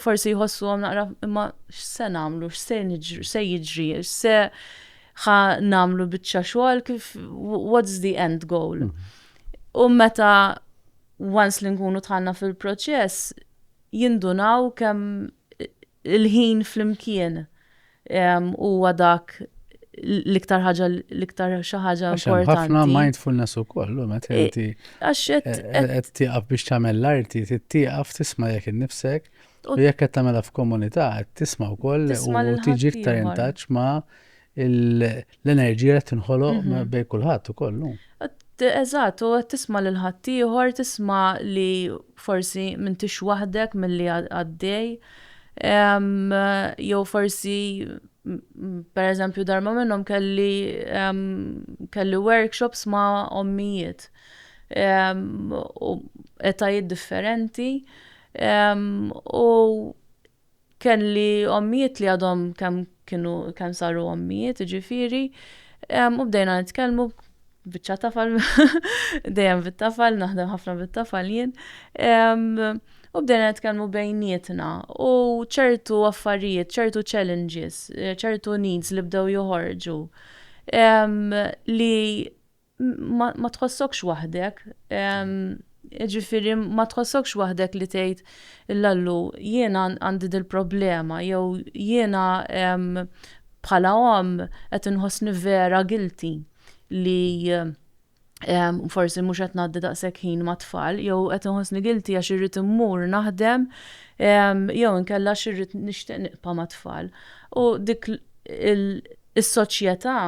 Speaker 1: forsi jħossuhom naqra imma x'se nagħmlu, x'se jiġri, x'se ħa nagħmlu biċċa xogħol kif what's the end goal. U meta once li nkunu tħanna fil-proċess, jindunaw kemm il-ħin fl-imkien huwa dak l-iktar ħaġa l-iktar xi ħaġa importanti. Ħafna mindfulness ukoll, meta e, inti qed tieqaf biex tagħmel l-arti, tieqaf tisma' jekk innifsek u jekk qed tagħmilha f'komunità qed tisma' wkoll u tiġi iktar intaċ ma' l-enerġija qed tinħoloq mhm. bejn kulħadd ukoll. Eżatt, u qed tisma' lil ħaddieħor, tisma' li forsi m'intix waħdek milli għaddej. Jew forsi per eżempju darma minnhom kelli kelli workshops ma' ommijiet u etajiet differenti u Kelli ommijiet li għadhom kemm kienu kemm saru ommijiet, jiġifieri, u bdejna nitkellmu biċċa tafal, dejjem bit-tafal, naħdem ħafna bit-tafal jien, u bdejna nitkellmu bejnietna u ċertu affarijiet, ċertu challenges, ċertu needs li bdew joħorġu li ma tħossokx waħdek. Jiġifieri ma tħossokx waħdek li tgħid l-Allu jiena għandi dil-problema jew jiena bħala omm qed inħossni vera guilty li forsi mhux qed ngħaddi daqshekk ħin mat-tfal jew qed inħossni guilty għax irrid immur naħdem jew inkella għax irrid nixtieq niqpa' mat-tfal. U dik is-soċjetà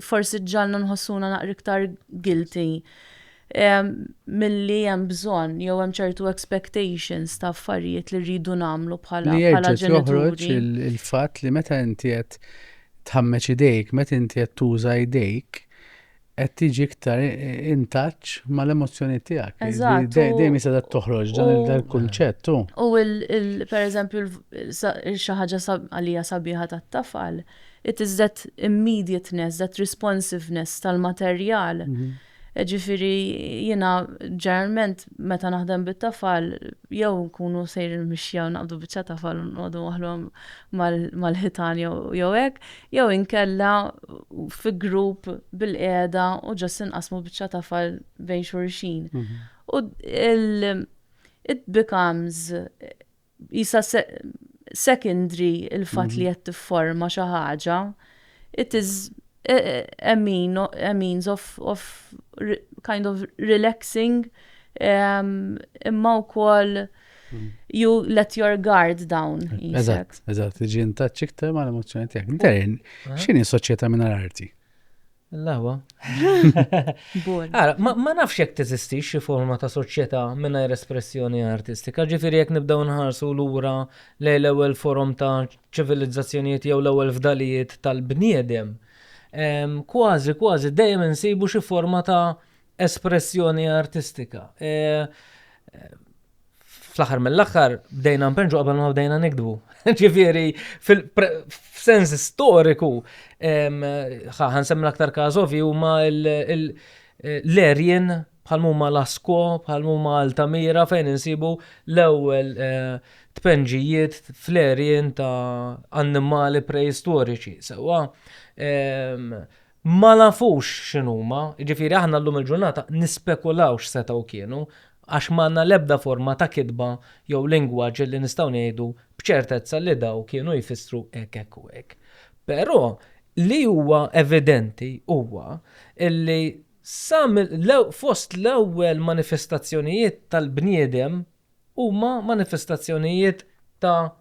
Speaker 1: forsi ġġalna nħossuna naqra iktar guilty milli hemm bżonn jew hemm ċertu expectations ta' affarijiet li rridu nagħmlu bħala bħala ġenituri. Il-fatt li meta inti qed tħammeġ idejk, meta inti qed tuża idejk, qed tiġi iktar intaċ mal-emozzjoni tiegħek. Eżatt. Dejjem jista' toħroġ dan il-kunċett U pereżempju xi ħaġa għalija sabiħa tat-tafal, It is that immediateness, that responsiveness tal-materjal. Ġifieri jiena ġeneralment meta naħdem bit-tafal jew nkunu sejrin mixja u naqbdu biċċa tafal u nqogħdu waħlhom mal-ħitan jew hekk, jew inkella fi grupp bilqiegħda u ġast inqassmu biċċa tafal bejn xulxin. U it becomes Qisha secondary il-fatt li qed tifforma xi ħaġa, it is a means of, of kind of relaxing um, imma wkoll you let your guard down. Eżatt, eżatt, ġin taċċik tema l-emozzjoni tiegħek. Darren, x'inhi soċjetà minn arti? L-għawa. Ma nafx jekk teżisti xi forma ta' soċjetà mingħajr espressjoni artistika, ġifieri jekk nibdew nħarsu lura lejn l-ewwel forom ta' ċivilizzazzjonijiet jew l-ewwel fdalijiet tal-bniedem, kważi kważi dejjem insibu xi forma ta' espressjoni artistika. fl-aħħar mill-aħħar bdejna npenġu qabel ma bdejna nikdbu. Ġifieri f'sens storiku ħan semmi l-aktar każ ovvi huma l-erjen bħal huma Lasko, bħal huma Altamira fejn insibu l-ewwel eh, tpenġijiet fl-erjen ta' annimali preistoriċi. Sewwa ma nafux x'inhuma, jiġifieri aħna llum il-ġurnata nispekulaw x'setgħu kienu għax m'għandna l-ebda forma ta' kitba jew lingwaġġ li nistgħu ngħidu b'ċertezza li dawn kienu jfissru hekk hekk u hekk. Però li huwa evidenti huwa li sa fost l-ewwel manifestazzjonijiet tal-bniedem huma manifestazzjonijiet ta'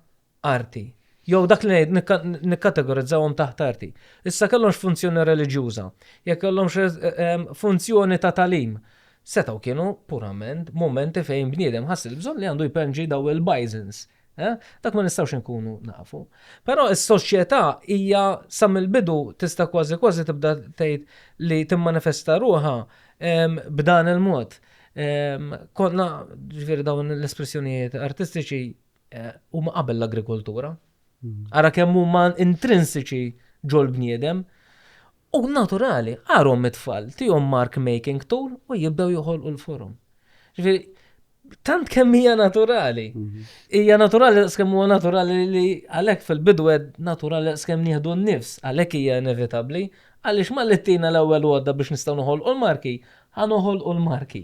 Speaker 1: arti, jew dak li nikkategorizzawhom taħt arti, issa kellhomx funzjoni reliġjuża, jekk kellhomx funzjoni ta' tagħlim, setgħu kienu purament mumenti fejn bniedem ħass il-bżonn li għandu jpenġi dawn il-bajżens. Dak ma nistgħux inkunu nafu. Però s-soċjetà hija sa mill-bidu tista' kważi kważi tibda tgħid li timmanifesta ruħha b'dan il-mod. Konna ġifieri dawn l-espressjonijiet artistiċi huma qabel l-agrikoltura. Ara kemm huma intrinsiċi ġol-bniedem. U naturali, għarhom it-tfal, tihom mark making tool u jibdew joħolqu l-forum. Ġifieri, tant kemm hija naturali. Mhm. Hija naturali skemm huwa naturali li għalhekk fil-bidu qed naturali skemm nieħdu n-nifs, għalhekk hija inevitabbli, għaliex ma li tina l-ewwel għodda biex nistgħu noħolqu l-marki, Ħa noħolqu l-marki.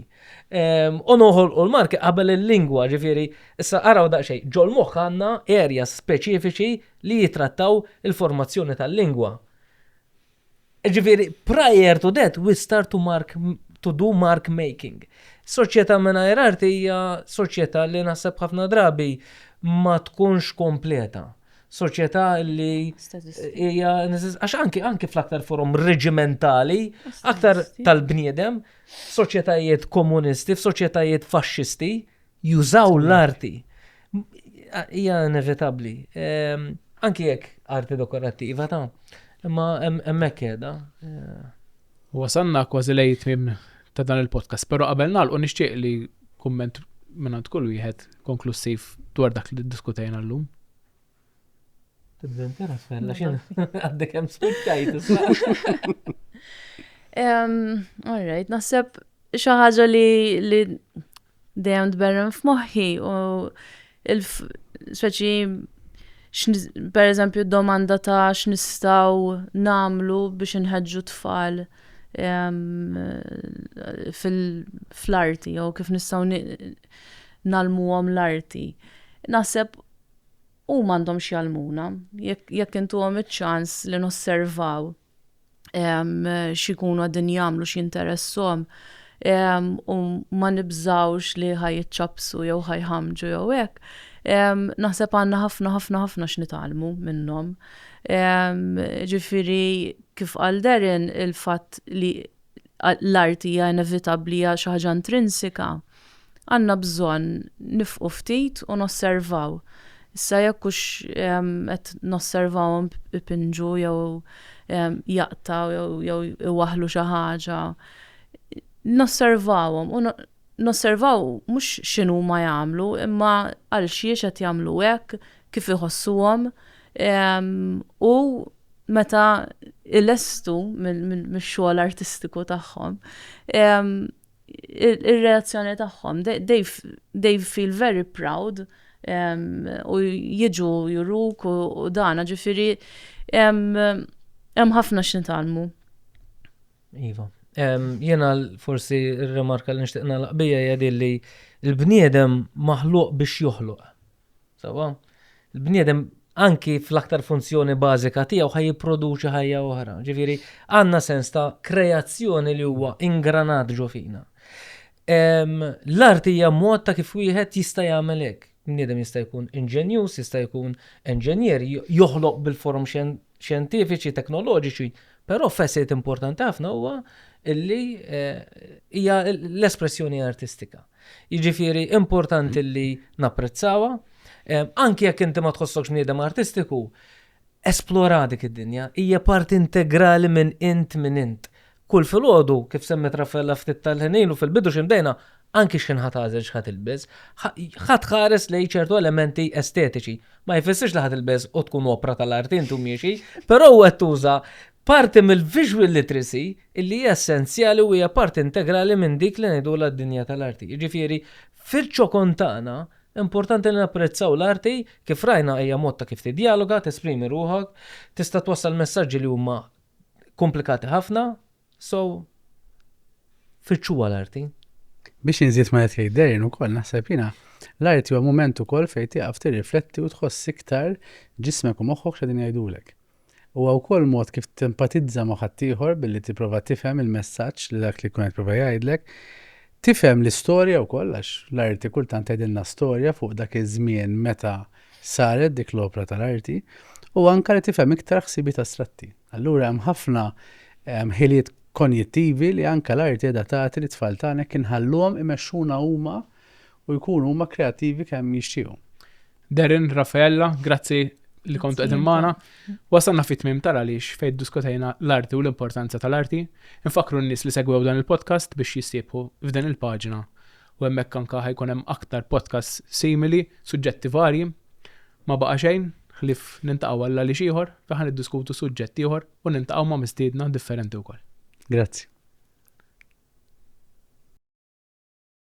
Speaker 1: U noħolqu l-marki qabel il-lingwa, ġifieri, issa araw daqsxejn, ġol-moħħ għandna areas speċifiċi li jitrattaw il-formazzjoni tal-lingwa. Ġifieri, prior to that, we start to mark to do mark making. Soċjetà mingħajr arti hija soċjetà li naħseb ħafna drabi ma tkunx kompleta. soċjetà li hija għax anki anki fl-aktar forum reġimentali, aktar tal-bniedem, soċjetajiet komunisti, f'soċjetajiet faxxisti, jużaw l-arti. Hija inevitabbli. Ehm, anki jekk arti dekorattiva ta' imma hemmhekk qiegħda. Eh, Wasalna kważi lejn it-tmiem ta' dan il-podcast, però qabel nagħlqu nixtieq li kumment mingħand kull wieħed konklussiv dwar dak li ddiskutejna llum. Tibda inti Rafael, għax jien għaddek hemm spiċċajt issa. All right, naħseb xi ħaġa li Dejjem tberren f'moħħi u speċi per eżempju domanda ta' x'nistgħu namlu biex inħeġġu tfal ehm, fl-arti jew kif nistgħu nalmuhom l-arti. Naħseb u mandom xjalmuna, jekk intu għom iċ-ċans li nosservaw x'ikunu għadin jagħmlu x'interessom u ma nibżawx li ħajċapsu jew ħajħamġu jew hekk. Naħseb għandna ħafna ħafna ħafna x'nitalmu minnhom. Ġifieri kif għal Darren il-fatt li l-arti hija inevitabbli, hija xi ħaġa intrinsika, għandna bżonn nifqu ftit u nosservaw. Issa jekk hux qed nosservawhom ipinġu jew jaqtgħu jew iwaħħlu xi ħaġa, nosservawhom u Nosservaw mhux x'inhuma jagħmlu, imma għalxiex qed jagħmlu hekk, kif iħossuhom, u meta jlestu mix-xogħol artistiku tagħhom, ir-reazzjoni tagħhom. They feel very proud u jiġu juruk u dan, ġifieri hemm ħafna x'nitgħallmu. Iva. Jena forsi r-remarka li nixtieq nagħlaq bija hija din li l-bniedem maħluq biex joħloq. Sawa? Il-bniedem anki fl-aktar funzjoni bażika tiegħu ħaj jipproduċi ħajja oħra. Ġifieri għandna sens ta' kreazzjoni li huwa ingranat ġo fina. L-art hija mod ta' kif wieħed jista' jagħmel hekk. Bniedem jista' jkun inġenjuż, jista' jkun enġenjer, joħloq bil-forom xjentifiċi, teknoloġiċi, però facet importanti ħafna huwa li hija l-espressjoni artistika. Jiġifieri importanti li napprezzawha, anki jekk inti ma tħossokx bniedem artistiku, Esplora dik id-dinja, hija parti integrali minn int min int. Kull filgħodu, kif semmiet Raffaella ftit tal-ħin ilu, fil-bidu xi mdejna, anki x'ħin ħa tagħżel x'ħa tilbes, ħa tħares lejn ċertu elementi estetiċi. Ma jfissirx li ħa tilbes u tkun opra tal-art int u miexi, però hu qed tuża parti mill-visual literacy illi hija essenzjali u hija parti integrali minn dik li ngħidulha d-dinja tal-arti. Jiġifieri, fil-ċokon tagħna, Importanti li napprezzaw l-arti, kif rajna hija mod ta' kif tiddjaloga, tesprimi ruħok, tista' twassal messaġġi li huma komplikati ħafna, so fittxuha l-arti. Biex inżid ma' qed jgħid Darren ukoll naħseb jiena l-arti huwa mument ukoll fejn tieqaf tirrifletti u tħoss iktar ġismek u moħħok x'qegħdin jgħidulek. Huwa wkoll mod kif tempatizza ma' ħaddieħor billi tipprova tifhem il-messaġġ li dak li jkun qed jipprova jgħidlek. Tifhem l-istorja wkoll għax l-arti kultant tgħidilna storja fuq dak iż-żmien meta saret dik l-opra tal-arti u anke li tifhem iktar ħsibiet astratti. Allura hemm ħafna ħiliet konjittivi li anke l-arti qiegħda tagħti lit-tfal tagħna jekk inħalluhom imexxuna huma u jkunu huma kreattivi kemm jixtiequ. Darren, Raffaella, grazzi li kontu għedin maħna. Wasanna fit mim tal għaliex fejn diskutajna l-arti u l-importanza tal-arti. Infakru n-nis li segwew dan il-podcast biex jistibħu f'dan il-pagina. U hemmhekk anka ħajkun hemm aktar podcast simili, suġġetti varji. Ma baqa' xejn, ħlif nintaqgħu għalla li xieħor, taħan id-diskutu suġġetti ieħor u nintaqgħu ma' mistiedna differenti wkoll. Grazzi.